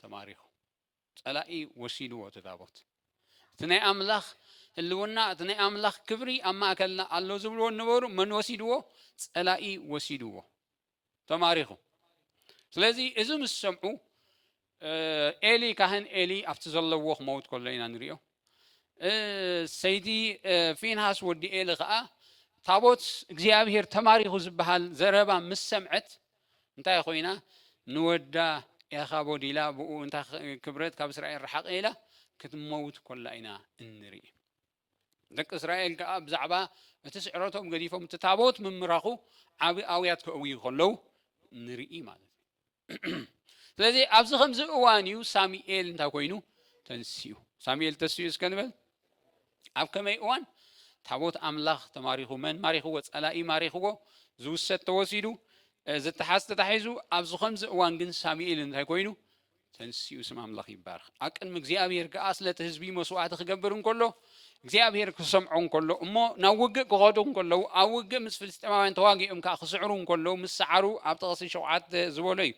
ተማሪኹ ጸላኢ ወሲድዎ እቲ ታቦት እቲ ናይ ኣምላኽ ህልውና እቲ ናይ ኣምላኽ ክብሪ ኣብ ማእከልና ኣሎ ዝብልዎ ነበሩ መን ወሲድዎ ጸላኢ ወሲድዎ ተማሪኹ ስለዚ እዚ ምስ ሰምዑ ኤሊ ካህን ኤሊ ኣብቲ ዘለዎ ክመውት ከሎ ኢና ንሪኦ። ሰይቲ ፊንሃስ ወዲ ኤሊ ከኣ ታቦት እግዚኣብሄር ተማሪኹ ዝበሃል ዘረባ ምስ ሰምዐት እንታይ ኮይና ንወዳ ኤኻቦድ ኢላ ብኡ እንታይ ክብረት ካብ እስራኤል ረሓቐ ኢላ ክትመውት ኮላ ኢና እንርኢ። ደቂ እስራኤል ከዓ ብዛዕባ እቲ ስዕረቶም ገዲፎም እቲ ታቦት ምምራኹ ዓቢ ኣውያት ከእውዩ ከለዉ ንርኢ ማለት እዩ። ስለዚ ኣብዚ ከምዚ እዋን እዩ ሳሙኤል እንታይ ኮይኑ ተንስኡ ሳሙኤል ተስኡ እስከ ንበል ኣብ ከመይ እዋን ታቦት ኣምላኽ ተማሪኹ መን ማሪኽዎ ጸላኢ ማሪኽዎ ዝውሰድ ተወሲዱ ዝተሓዝ ተታሒዙ ኣብዚ ከምዚ እዋን ግን ሳሙኤል እንታይ ኮይኑ ተንስኡ ስም ኣምላኽ ይባርኽ ኣብ ቅድሚ እግዚኣብሔር ከዓ ስለቲ ህዝቢ መስዋዕቲ ክገብር እንከሎ እግዚኣብሄር ክሰምዖ እንከሎ እሞ ናብ ውግእ ክኸዱ እንከለዉ ኣብ ውግእ ምስ ፍልስጤማውያን ተዋጊኦም ከዓ ክስዕሩ እንከለዉ ምስ ሰዓሩ ኣብ ጥቕሲ ሸውዓተ ዝበሎ እዩ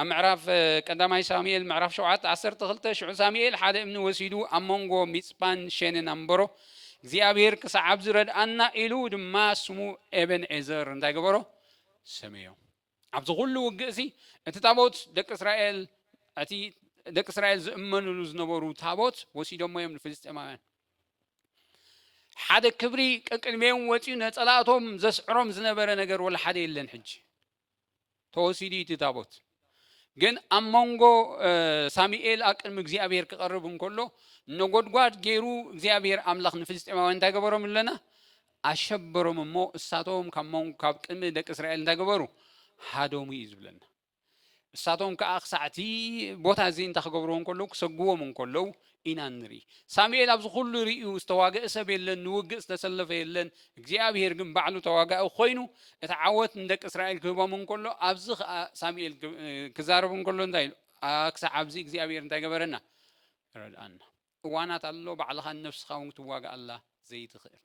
ኣብ ምዕራፍ ቀዳማይ ሳሙኤል ምዕራፍ ሸውዓተ ዓሰርተ ክልተ ሽዑ ሳሙኤል ሓደ እምኒ ወሲዱ ኣብ መንጎ ሚፅጳን ሸንን ኣንበሮ እግዚኣብሄር ክሳዕ ኣብዚ ረድኣና ኢሉ ድማ ስሙ ኤበን ኤዘር እንታይ ገበሮ ሰመዮ ኣብዚ ዅሉ ውግእሲ፣ እቲ ታቦት ደቂ እስራኤል እቲ ደቂ እስራኤል ዝእመኑሉ ዝነበሩ ታቦት ወሲዶሞ እዮም ንፍልስጤማውያን። ሓደ ክብሪ ቀቅድሜኦም ወጺኡ ነጸላእቶም ዘስዕሮም ዝነበረ ነገር ወላ ሓደ የለን ሕጂ። ተወሲዱ እዩ እቲ ታቦት። ግን ኣብ መንጎ ሳሙኤል ኣብ ቅድሚ እግዚኣብሔር ክቐርብ እንከሎ ነጎድጓድ ገይሩ እግዚኣብሔር ኣምላኽ ንፍልስጤማውያን እንታይ ገበሮም ኣለና ኣሸበሮም እሞ እሳቶም ካብ መንጎ ካብ ቅድሚ ደቂ እስራኤል እንታይ ገበሩ ሃደሙ እዩ ዝብለና እሳቶም ከዓ ክሳዕ እቲ ቦታ እዚ እንታይ ክገብርዎ እንከለዉ ክሰግዎም እንከለዉ ኢና ንርኢ ሳሙኤል ኣብዚ ኩሉ ርእዩ ዝተዋገእ ሰብ የለን ንውግእ ዝተሰለፈ የለን እግዚኣብሄር ግን ባዕሉ ተዋጋኢ ኮይኑ እቲ ዓወት ንደቂ እስራኤል ክህቦም እንከሎ ኣብዚ ከዓ ሳሙኤል ክዛረብ እንከሎ እንታይ ኢሉ ክሳዕ ኣብዚ እግዚኣብሄር እንታይ ገበረና ረድኣና እዋናት ኣሎ ባዕልኻ ንነብስኻ ውን ክትዋግኣላ ዘይትኽእል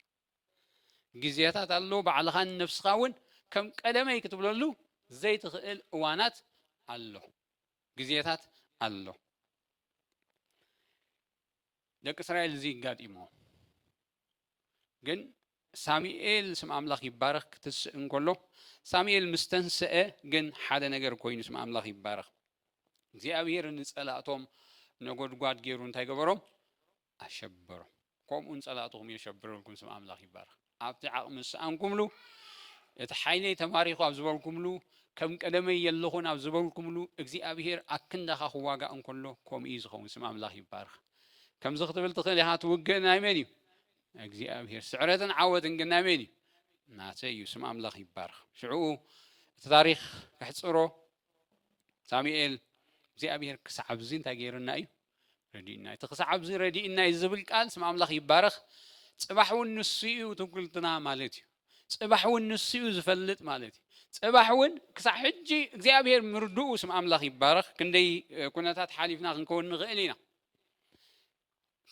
ግዜታት ኣሎ ባዕልኻ ንነብስኻ ውን ከም ቀደመይ ክትብለሉ ዘይትኽእል እዋናት ኣሎ ግዜታት ኣሎ ደቂ እስራኤል እዚ ይጋጢሞ ግን ሳሙኤል ስም ኣምላኽ ይባረኽ ክትስእ እንከሎ ሳሙኤል ምስ ተንስአ ግን ሓደ ነገር ኮይኑ ስም ኣምላኽ ይባረኽ እግዚኣብሔር ንጸላእቶም ነጎድጓድ ገይሩ እንታይ ገበሮም ኣሸበሮም ከምኡ ንጸላእትኹም የሸብረልኩም ስም ኣምላኽ ይባረኽ ኣብቲ ዓቕሚ ዝሰኣንኩምሉ እቲ ሓይለይ ተማሪኹ ኣብ ዝበልኩምሉ ከም ቀደመይ የለኹን ኣብ ዝበልኩምሉ እግዚኣብሄር ኣክንዳኻ ክዋጋእ እንከሎ ከምኡ እዩ ዝኸውን ስም ኣምላኽ ይባርኽ ከምዚ ክትብል ትኽእል ኢኻ፣ እቲ ውግእ ናይ መን እዩ? ናይ እግዚኣብሄር። ስዕረትን ዓወትን ግን ናይ መን እዩ? ናተይ እዩ። ስም ኣምላኽ ይባረኽ። ሽዕኡ እቲ ታሪኽ ከሕጽሮ ሳሙኤል እግዚኣብሄር ክሳዕ ኣብዚ እንታይ ገይርና እዩ ረዲእና እቲ ክሳዕ ኣብዚ ረዲእና እዩ ዝብል ቃል ስም ኣምላኽ ይባረኽ። ጽባሕ እውን ንሱ እዩ ትውክልትና ማለት እዩ። ጽባሕ ውን ንሱዩ ዝፈልጥ ማለት እዩ ጽባሕ ውን ክሳዕ ሕጂ እግዚኣብሄር ምርድኡ ስም ኣምላኽ ይባረኽ ክንደይ ኩነታት ሓሊፍና ክንከውን ንኽእል ኢና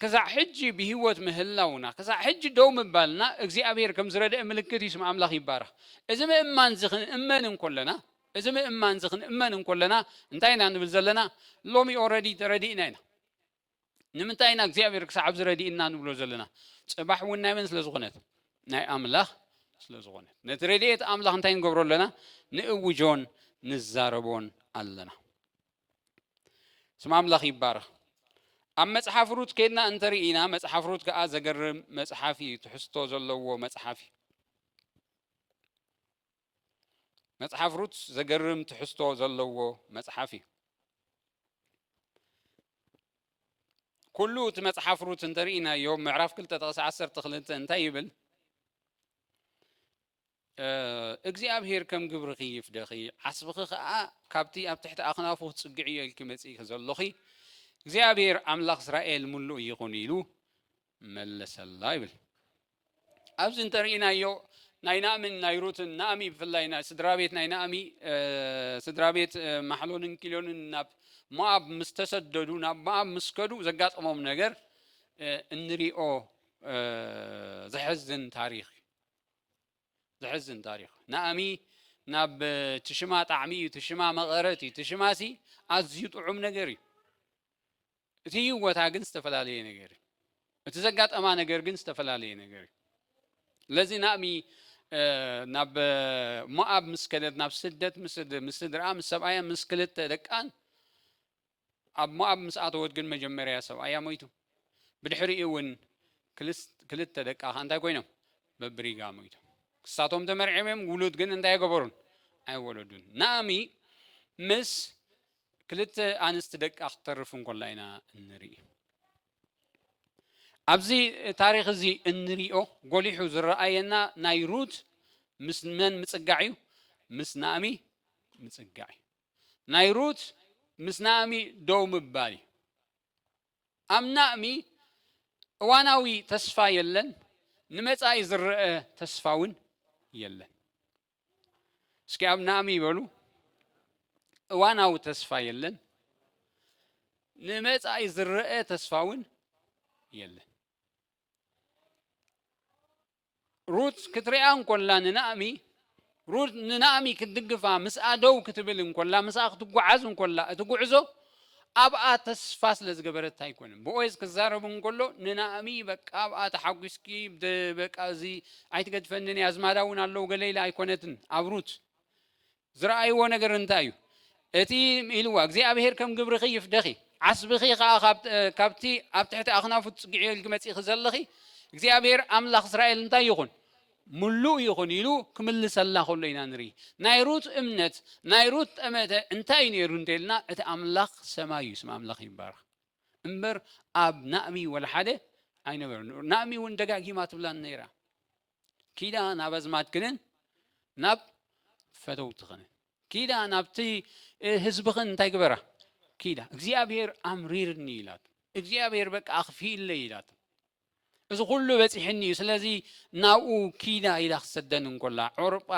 ክሳዕ ሕጂ ብሂወት ምህላውና ክሳዕ ሕጂ ደው ምባልና እግዚኣብሄር ከም ዝረድአ ምልክት እዩ ስም ኣምላኽ ይባረኽ እዚ ምእማን እዚ ክንእመን እንኮለና እዚ ምእማን እዚ ክንእመን እንኮለና እንታይ ኢና ንብል ዘለና ሎሚ ኦረዲ ተረዲእና ኢና ንምንታይ ኢና እግዚኣብሔር ክሳዕ ኣብዚ ረድእና ንብሎ ዘለና ጽባሕ እውን ናይ መን ስለ ዝኾነት ናይ ኣምላኽ ስለ ዝኾነት ነቲ ረድኤት ኣምላኽ እንታይ ንገብሮ ኣለና ንእውጆን ንዛረቦን ኣለና ስም ኣምላኽ ይባረኽ ኣብ መጽሓፍ ሩት ከድና እንተርኢና መጽሓፍ ሩት ከዓ ዘገርም መጽሓፍ እዩ ትሕዝቶ ዘለዎ መጽሓፍ እዩ መጽሓፍ ሩት ዘገርም ትሕዝቶ ዘለዎ መጽሓፍ እዩ። ኩሉ እቲ መጽሓፍ ሩት እንተርኢናዮ ምዕራፍ ክልተ ጥቕሲ ዓሰርተ ክልተ እንታይ ይብል? እግዚኣብሄር ከም ግብርኺ ይፍደኺ ዓስብኺ ከዓ ካብቲ ኣብ ትሕቲ ኣኽናፉ ክጽግዕ እዮ ኢልኪ መጺእኪ ዘሎኺ እግዚኣብሄር ኣምላኽ እስራኤል ምሉእ ይኹን ኢሉ መለሰላ ይብል ኣብዚ እንተርኢናዮ ናይ ናእምን ናይ ሩትን ናእሚ ብፍላይ ናይ ስድራ ቤት ናይ ናእሚ ስድራ ቤት ማሕሎንን ኪሎንን ናብ ሞኣብ ምስ ተሰደዱ ናብ ሞኣብ ምስ ከዱ ዘጋጠሞም ነገር እንሪኦ ዘሕዝን ታሪክ ዘሕዝን ታሪክ ናእሚ ናብ ትሽማ ጣዕሚ እዩ ትሽማ መቐረት እዩ ትሽማሲ ኣዝዩ ጥዑም ነገር እዩ እቲ ህይወታ ግን ዝተፈላለየ ነገር እዩ። እቲ ዘጋጠማ ነገር ግን ዝተፈላለየ ነገር እዩ። ለዚ ናእሚ ናብ ሞኣብ ምስ ከደት ናብ ስደት ምስ ስድርኣ ምስ ሰብኣያ ምስ ክልተ ደቃን ኣብ ሞኣብ ምስ ኣተወት ግን መጀመርያ ሰብኣያ ሞይቱ ብድሕሪኡ እውን ክልተ ደቃ ከ እንታይ ኮይኖም በብሪጋ ሞይቶም ክሳቶም ተመርዒም እዮም ውሉድ ግን እንታይ ገበሩን ኣይወለዱን ናእሚ ምስ ክልተ ኣንስቲ ደቃ ክተርፍ እንኮላ ኢና እንርኢ። ኣብዚ ታሪኽ እዚ እንሪኦ ጎሊሑ ዝረኣየና ናይ ሩት ምስ መን ምጽጋዕ እዩ? ምስ ናእሚ ምጽጋዕ እዩ። ናይ ሩት ምስ ናእሚ ደው ምባል እዩ። ኣብ ናእሚ እዋናዊ ተስፋ የለን፣ ንመጻኢ ዝረአ ተስፋ እውን የለን። እስኪ ኣብ ናእሚ ይበሉ እዋናዊ ተስፋ የለን ንመጻኢ ዝረአ ተስፋ እውን የለን ሩት ክትሪኣ እንኮላ ንናእሚ ሩት ንናእሚ ክትድግፋ ምስኣ ደው ክትብል እንኮላ ምስኣ ክትጓዓዝ እንኮላ እቲ ጉዕዞ ኣብኣ ተስፋ ስለ ዝገበረት ኣይኮነን ቦዔዝ ክዛረብ እንከሎ ንናኦሚ በቃ ኣብኣ ተሓጒስኪ ደ- በቃ እዚ ኣይትገድፈንን እያ ኣዝማዳ እውን ኣለዉ ገለ ኢላ ኣይኮነትን ኣብ ሩት ዝረኣይዎ ነገር እንታይ እዩ እቲ ኢልዋ እግዚኣብሄር ከም ግብርኺ ይፍደኺ ዓስብኺ ከዓ ካብ- እ፣ ካብቲ ኣብ ትሕቲ ኣኽናፉ ትጽግዕዮ ኢልኪ መጺእኺ ዘለኺ እግዚኣብሄር ኣምላኽ እስራኤል እንታይ ይኹን ምሉእ ይኹን ኢሉ ክምልሰልና ከሎ ኢና ንርኢ። ናይ ሩት እምነት፣ ናይ ሩት ጠመተ እንታይ እዩ ነይሩ እንተኢልና እቲ ኣምላኽ ሰማይ እዩ፣ ስም ኣምላኽ ይባረኽ፣ እምበር ኣብ ናእሚ ወላ ሓደ ኣይነበረን። ናእሚ እውን ደጋጊማ ትብላን ነይራ ኪዳ ናብ ኣዝማድክንን ናብ ፈተውትኽንን ኪዳ ናብቲ ህዝብኽን እንታይ ግበራ ኪዳ እግዚኣብሔር ኣምሪርኒ ኢላቱ እግዚኣብሔር በቃ ኣኽፊኢለይ ኢላቱ እዚ ኩሉ በጺሕኒ እዩ ስለዚ ናብኡ ኪዳ ኢላ ክትሰደኒ እንኮላ ዑርጳ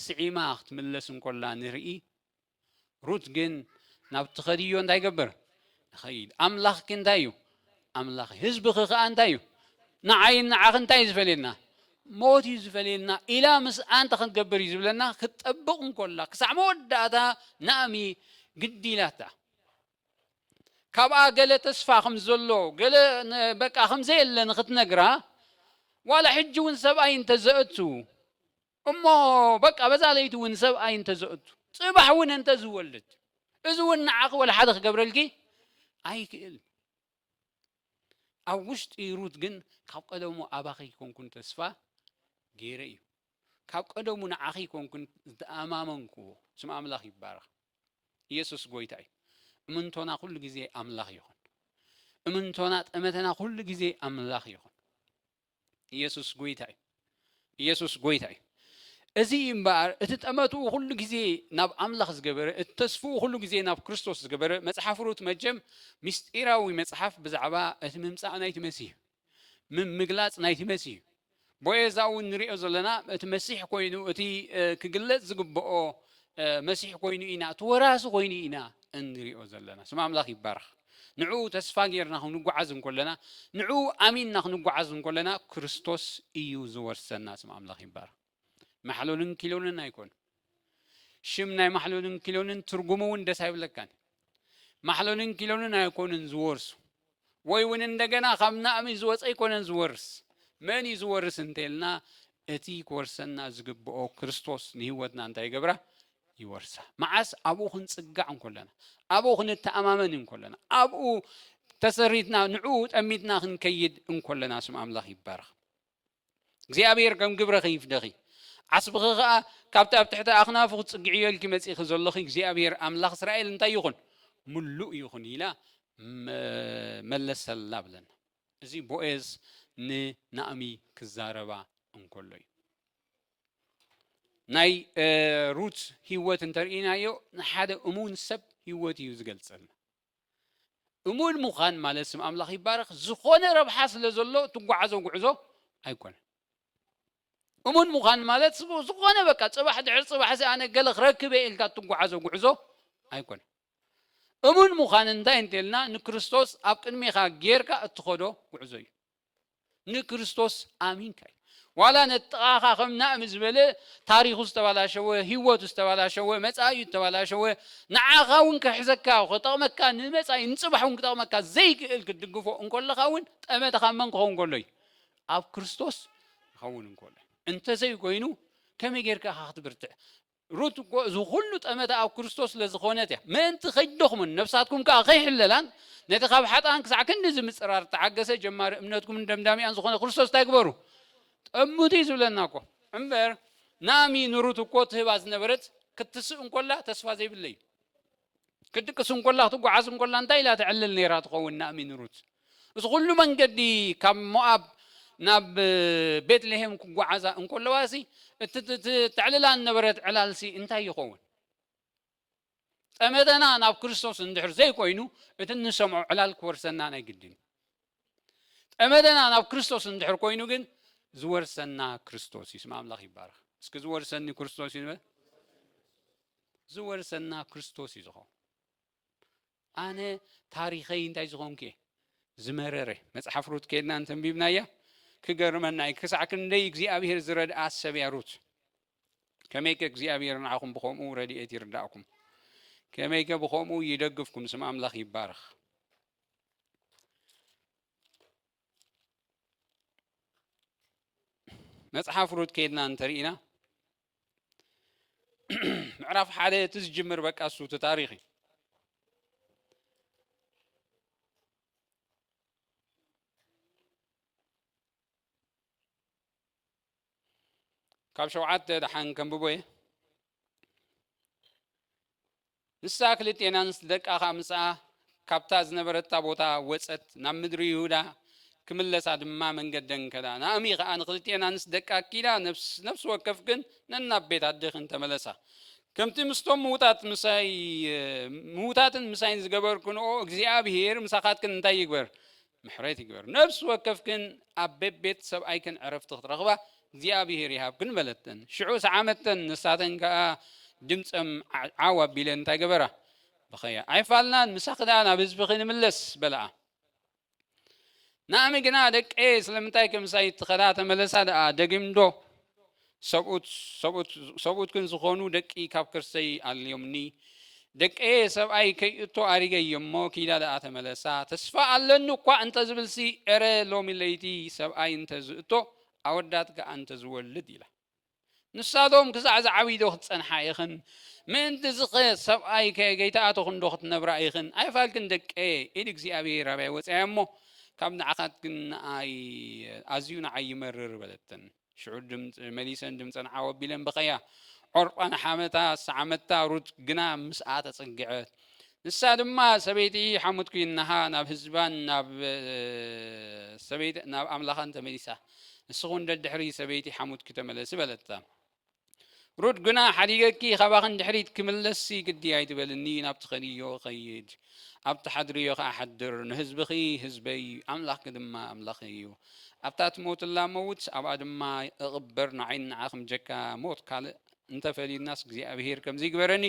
ስዒማ ክትምለስ እንኮላ ንርኢ ሩት ግን ናብ ትኸድዮ እንታይ ገበር ንኸይድ ኣምላኽ ግን እንታይ እዩ ኣምላኽ ህዝብኺ ከዓ እንታይ እዩ ንዓይን ንዓኺ እንታይ እዩ ዝፈልየና ሞት እዩ ዝፈልየና ኢላ ምስ ኣንተ ክንገብር እዩ ዝብለና ክትጠብቕ እንኮላ ክሳዕ መወዳእታ ናእሚ ግዲ ኢላታ ካብኣ ገለ ተስፋ ከም ዘሎ ገለ በቃ ከም ዘየለ ንክትነግራ ዋላ ሕጂ እውን ሰብኣይ እንተዘእቱ እሞ በቃ በዛ ለይቲ እውን ሰብኣይ እንተዘእቱ ፅባሕ እውን እንተዝወልድ እዚ እውን ንዓኺ ወላ ሓደ ክገብረልኪ ኣይክእል ኣብ ውሽጢ ሩት ግን ካብ ቀደሙ ኣባኺ ይኮንኩን ተስፋ ገይረ እዩ ካብ ቀደሙ ንዓኺ ኮንኩን ዝተኣማመንክዎ። ስም ኣምላኽ ይባረኽ። ኢየሱስ ጎይታ እዩ። እምንቶና ኩሉ ግዜ ኣምላኽ ይኹን። እምንቶና ጠመተና ኩሉ ግዜ ኣምላኽ ይኹን። ኢየሱስ ጎይታ እዩ። ኢየሱስ ጎይታ እዩ። እዚ እምበኣር እቲ ጠመትኡ ኩሉ ግዜ ናብ ኣምላኽ ዝገበረ እቲ ተስፍኡ ኩሉ ግዜ ናብ ክርስቶስ ዝገበረ መጽሓፍ ሩት መጀም ምስጢራዊ መጽሓፍ ብዛዕባ እቲ ምምጻእ ናይቲ መሲህ ምግላጽ ናይቲ መሲ እዩ። ቦዔዛ እውን ንርእዮ ዘለና እቲ መሲሕ ኮይኑ እቲ ክግለጽ ዝግብኦ መሲሕ ኮይኑ ኢና እቲ ወራሲ ኮይኑ ኢና እንርእዮ ዘለና። ስም ኣምላኽ ይባረኽ። ንዕኡ ተስፋ ጌርና ክንጓዓዝ እንኮለና ንዕኡ ኣሚንና ክንጓዓዝ እንኮለና ክርስቶስ እዩ ዝወርሰና። ስም ኣምላኽ ይባረኽ። ማሕሎንን ኪሎንን ኣይኮኑ ሽም ናይ ማሕሎንን ኪሎንን ትርጉሙ እውን ደስ ኣይብለካን ማሕሎንን ኪሎንን ኣይኮኑን ዝወርሱ ወይ እውን እንደገና ካብ ናእሚ ዝወፀ ኣይኮነን ዝወርስ መን እዩ ዝወርስ እንተልና እቲ ክወርሰና ዝግብኦ ክርስቶስ ንህይወትና እንታይ ይገብራ ይወርሳ መዓስ ኣብኡ ክንፅጋዕ እንኮለና ኣብኡ ክንተኣማመን እንኮለና ኣብኡ ተሰሪትና ንዕኡ ጠሚትና ክንከይድ እንኮለና ስም ኣምላኽ ይባረኽ እግዚኣብሔር ከም ግብረኺ ይፍደኺ ዓስብኺ ኸኣ ካብቲ ኣብ ትሕቲ ኣኽናፉ ክትጽግዕዮ ኢልኪ መጺእኺ ዘሎኺ እግዚኣብሔር ኣምላኽ እስራኤል እንታይ ይኹን ምሉእ ይኹን ኢላ መለሰላ ብለና እዚ ቦኤዝ ንናእሚ ክዛረባ እንከሎ እዩ ናይ ሩት ህይወት እንተርእናዮ ንሓደ እሙን ሰብ ህይወት እዩ ዝገልጸልና እሙን ምዃን ማለት ስም ኣምላኽ ይባረኽ ዝኾነ ረብሓ ስለ ዘሎ እትጓዓዞ ጉዕዞ ኣይኮነን። እሙን ምዃን ማለት ዝኾነ በቃ ጽባሕ ድሕሪ ጽባሕ እዚ ኣነ ገለ ክረክብ እየ ኢልካ እትጓዓዞ ጉዕዞ ኣይኮነን። እሙን ምዃን እንታይ እንተልና ንክርስቶስ ኣብ ቅድሜኻ ጌርካ እትኸዶ ጉዕዞ እዩ። ንክርስቶስ ኣሚንካ እዩ ዋላ ነጥቓኻ ከም ናእም ዝበለ ታሪኹ ዝተባላሸወ ህይወቱ ዝተባላሸወ መጻእዩ ዝተባላሸወ ንዓኻ እውን ክሕዘካ ክጠቕመካ ንመጻኢ ንጽባሕ እውን ክጠቕመካ ዘይክእል ክትድግፎ እንከለኻ እውን ጠመተኻ መን ክኸውን ከሎ እዩ ኣብ ክርስቶስ ክኸውን እንከሎ እንተዘይኮይኑ ከመይ ጌርካ ኢኻ ክትብርትዕ ሩት እኮ እዚ ዅሉ ጠመተ ኣብ ክርስቶስ ስለ ዝዀነት እያ፣ ምእንቲ ኸይትደኽሙን ነፍሳትኩም ከኣ ኸይሕለላን፣ ነቲ ኻብ ሓጥኣን ክሳዕ ክንድዚ ምጽራር እተዓገሰ ጀማሪ እምነትኩምን ደምዳሚኣን ዝዀነ ክርስቶስ እንታይ ግበሩ? ጠምቱ እዩ ዝብለና እኮ። እምበር፣ ናኦሚ ንሩት እኮ ትህባ ዝነበረት ክትስእ እንከላ ተስፋ ዘይብለይ እዩ። ክትድቅስ እንኮላ ክትጓዓዝ እንኮላ እንታይ ኢላ ተዕልል ነይራ ትኸውን ናእሚን ሩት እዚ ኩሉ መንገዲ ካብ ሞኣብ ናብ ቤትልሄም ክጓዓዛ እንኮለዋ ሲ እቲ ተዕልላ ነበረት ዕላል ሲ እንታይ ይኸውን ጠመተና ናብ ክርስቶስ እንድሕር ዘይኮይኑ እቲ እንሰምዖ ዕላል ክወርሰና ናይ ግድን ጠመተና ናብ ክርስቶስ እንድሕር ኮይኑ ግን ዝወርሰና ክርስቶስ እዩ። ስም ኣምላኽ ይባረኽ። እስኪ ዝወርሰኒ ክርስቶስ እዩ ንበል። ዝወርሰና ክርስቶስ እዩ ዝኾን ኣነ ታሪኸይ እንታይ ዝኾንኩ እየ ዝመረረ መፅሓፍ ሩት ከድና እንተንቢብናያ ክገርመና እዩ ክሳዕ ክንደይ እግዚኣብሄር ዝረድኣ ሰብ እያ ሩት ከመይ ከ እግዚኣብሄር ንዓኹም ብከምኡ ረድኤት ይርዳእኩም ከመይ ከ ብከምኡ ይደግፍኩም ስም ኣምላኽ ይባረኽ መፅሓፍ ሩት ከይድና እንተርኢና ምዕራፍ ሓደ እቲ ዝጅምር በቃ እሱ እቲ ታሪክ እዩ ካብ ሸውዓተ ደሓን ከንብቦ እየ ንሳ ክልቴና ምስ ደቃ ኸኣ ምስኣ ካብታ ዝነበረታ ቦታ ወጸት፣ ናብ ምድሪ ይሁዳ ክምለሳ ድማ መንገደን ከዳ። ናኦሚ ኸኣ ንኽልቴና ንስ ደቃ ኣኪዳ፣ ነፍስ ነፍሲ ወከፍክን ነናብ ቤት ኣዴኽን ተመለሳ፣ ከምቲ ምስቶም ምዉታት ምሳይ ምዉታትን ምሳይን ዝገበርክንኦ፣ እግዚኣብሄር ምሳኻትክን እንታይ ይግበር፣ ምሕረት ይግበር ነፍሲ ወከፍክን ኣብ ቤቤት ሰብኣይክን ዕረፍቲ ክትረኽባ እግዚኣብሄር ይሃብክን በለተን ሽዑ ሰዓመተን ንሳተን ከኣ ድምጸም ዓው ኣቢለን እንታይ ገበራ በኸያ ኣይፋልናን ምሳኺ ደኣ ናብ ህዝብኺ ንምለስ በለኣ ናእሚ ግና ደቀየ ስለምንታይ ከምሳይ ትኸዳ ተመለሳ ደኣ ደግምዶ ሰብኡት ሰብኡት ሰብኡት ግን ዝኾኑ ደቂ ካብ ከርሰይ ኣልዮምኒ ደቀየ ሰብኣይ ከይእቶ ኣሪገየ እሞ ኪዳ ደኣ ተመለሳ ተስፋ ኣለኒ እኳ እንተ ዝብልሲ ኤረ ሎሚ ለይቲ ሰብኣይ እንተ ዝእቶ ኣወዳት ከኣ እንተ ዝወልድ ኢላ ንሳቶም ክሳዕ ዝዓብይ ዶ ክትጸንሓ ኢኽን ምእንቲ ዝኸ ሰብኣይ ከ ገይተኣተኹን ዶ ክትነብራ ኢኽን ኣይፋልክን ደቀየ ኢድ እግዚኣብሔር ኣብያ ወፅያ እሞ ካብ ንዓኻት ግን ንኣይ ኣዝዩ ንዓይ ይመርር በለተን ሽዑ ድምፅ መሊሰን ድምፀን ዓው ኣቢለን በቐያ። ዖርጳ ንሓመታ ሰዓመታ፣ ሩት ግና ምስኣ ተፀግዐት። ንሳ ድማ ሰበይቲ ሓሙት ኩይናሃ ናብ ህዝባን ናብ ሰበይቲ ናብ ኣምላኻን ተመሊሳ። ንስኺ እውን ደድሕሪ ሰበይቲ ሓሙትኪ ተመለሲ በለታ። ሩት ግና ሓዲገኪ ኻባኺ ንድሕሪት ክምለስሲ ግዲ ኣይትበልኒ፣ ናብ ትኸድዮ እኸይድ፣ ኣብ ትሓድርዮ ኸኣ እሓድር፣ ንህዝብኺ ህዝበይ፣ ኣምላኽኪ ድማ ኣምላኸይ እዩ፣ ኣብታ እትመውትላ እመውት፣ ኣብኣ ድማ እቕበር፣ ንዓይን ንዓኽን ብጀካ ሞት ካልእ እንተ ፈልዩናስ እግዚኣብሄር ከምዚ ይግበረኒ፣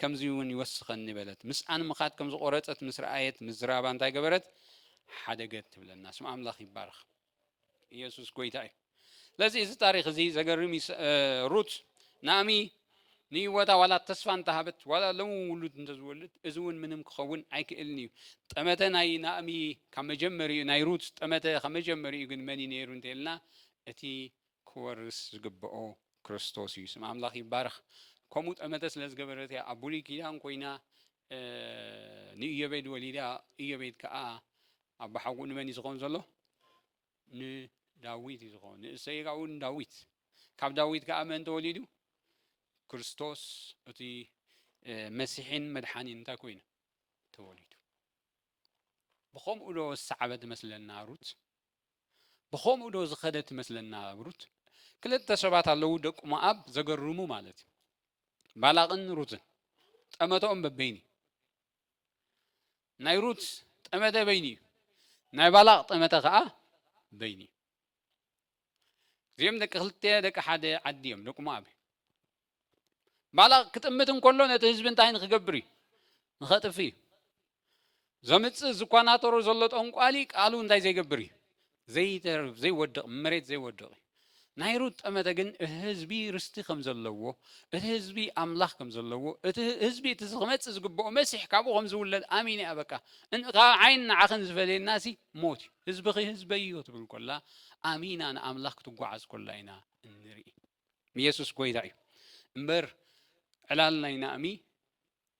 ከምዚውን ይወስኸኒ በለት። ምስኣ ንምኻድ ከም ዝቖረጸት ምስ ረኣየት፣ ምዝራባ እንታይ ገበረት? ሓደገት ትብለና። ስም ኣምላኽ ይባረኽ። ኢየሱስ ጎይታ እዩ ስለዚ እዚ ታሪክ እዚ ዘገርም ሩት ናእሚ ንህይወታ ዋላ ተስፋ እንተሃበት ዋላ ሎም ውሉድ እንተዝወልድ እዚ እውን ምንም ክኸውን ኣይክእልን እዩ ጠመተ ናይ ናእሚ ካብ መጀመሪኡ ናይ ሩት ጠመተ ካብ መጀመሪኡ ግን መን እዩ ነይሩ እንተልና እቲ ክወርስ ዝግብኦ ክርስቶስ እዩ ስም ኣምላኽ ይባረኽ ከምኡ ጠመተ ስለ ዝገበረት እያ ኣብ ብሉይ ኪዳን ኮይና ንኢዮቤድ ወሊዳ ኢዮቤድ ከዓ ኣባሓጎኡ ንመን እዩ ዝኸውን ዘሎ? ንዳዊት እዩ ዝኸውን። ንእሰይ ካብኡ ንዳዊት ካብ ዳዊት ከዓ መን ተወሊዱ? ክርስቶስ እቲ መሲሒን መድሓኒን እንታይ ኮይኑ ተወሊዱ። ብኸምኡ ዶ ዝሰዓበት መስለና ሩት? ብኸምኡ ዶ ዝኸደት መስለና ሩት? ክልተ ሰባት ኣለዉ ደቂ ሞኣብ ዘገርሙ ማለት እዩ ባላቕን ሩትን ጠመተኦም በበይኒ ናይ ሩት ጠመተ በይኑ እዩ፣ ናይ ባላቕ ጠመተ ኸዓ በይኑ እዩ። እዚኦም ደቂ ክልተ ደቂ ሓደ ዓዲ እዮም፣ ደቂ ሞኣብ እዮም። ባላቕ ክጥምት እንከሎ ነቲ ህዝቢ እንታይ ንክገብር እዩ? ንኸጥፍ እዩ። ዘምፅእ ዝኳናተሮ ዘሎ ጠንቋሊ ቃሉ እንታይ ዘይገብር እዩ? ዘይተርፍ ዘይወድቕ መሬት ዘይወድቕ እዩ። ናይ ሩት ጠመተ ግን እቲ ህዝቢ ርስቲ ከም ዘለዎ፣ እቲ ህዝቢ ኣምላኽ ከም ዘለዎ፣ እቲ ህዝቢ እቲ ክመጽእ ዝግብኦ መሲሕ ካብኡ ከም ዝውለድ ኣሚነ እያ በቃ እን ካብዓይን ንዓኽን ዝፈልየናሲ ሞት እዩ ህዝብኺ ህዝበይ እዮ ትብል ኮላ ኣሚና ንኣምላኽ ክትጓዓዝ ኮላ ኢና እንርኢ ኢየሱስ ጎይታ እዩ እምበር ዕላል ናይ ናእሚ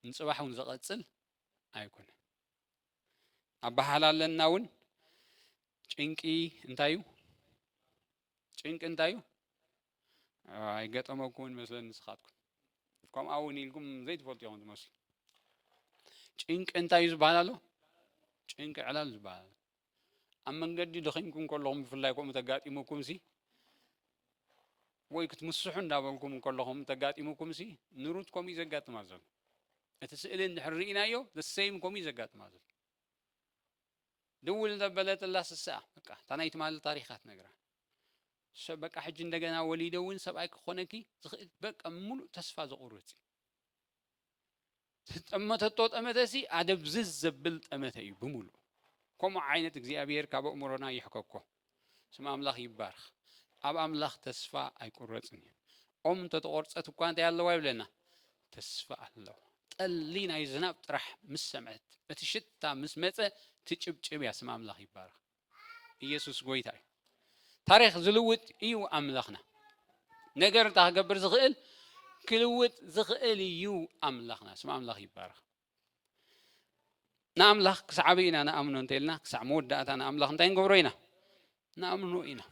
ንጽባሕ እውን ዘቐጽል ኣይኮነ ኣባሓላለና እውን ጭንቂ እንታይ እዩ ጭንቂ እንታይ እዩ ኣይገጠመኩምን መስለኒ ንስኻትኩም ከምኡ እውን ኢልኩም ዘይትፈልጡ ኢኹም ትመስሉ ጭንቂ እንታይ እዩ ዝበሃል ኣሎ ጭንቂ ዕላል ዝበሃል ኣብ መንገዲ ደኺምኩም ከለኹም ብፍላይ ከምኡ ተጋጢሙኩምሲ ወይ ክትምስሑ እንዳበልኩም ከለኹም ተጋጢሙኩምሲ ንሩት ከምኡ እዩ ዘጋጥማ ዘሎ እቲ ስእሊ እንድሕር ርኢናዮ ዘሰይም ከምኡ እዩ ዘጋጥማ ዘሎ ድውል ዘበለትላ ስስኣ በቃ እታ ናይ ትማሊ ታሪኻ ትነግራ በቃ ሕጂ እንደገና ወሊደ እውን ሰብኣይ ክኾነኪ ዝኽእል በቃ ምሉእ ተስፋ ዘቑርፅ እዩ ዝጠመተቶ ጠመተሲ ኣደብዝዝ ዘብል ጠመተ እዩ ብምሉእ ከምኡ ዓይነት እግዚኣብሔር ካብ ኣእምሮና ይሕከኮ ስም ኣምላኽ ይባርኽ ኣብ ኣምላኽ ተስፋ ኣይቁረፅን እዩ ኦም እንተተቆርፀት እኳ እንታይ ኣለዋ ይብለና ተስፋ ኣለዋ ጠሊ ናይ ዝናብ ጥራሕ ምስ ሰምዐት እቲ ሽታ ምስ መፀ ትጭብጭብ እያ ስም ኣምላኽ ይባርኽ ኢየሱስ ጎይታ እዩ። ታሪኽ ዝልውጥ እዩ ኣምላኽና። ነገር እንታ ክገብር ዝኽእል ክልውጥ ዝኽእል እዩ ኣምላኽና። ስም ኣምላኽ ይባረኽ። ንኣምላኽ ክሳዕ ኢና ንኣምኖ እንተኢልና ክሳዕ መወዳእታ ንኣምላኽ እንታይ ንገብሮ ኢና ንኣምኖ ኢና።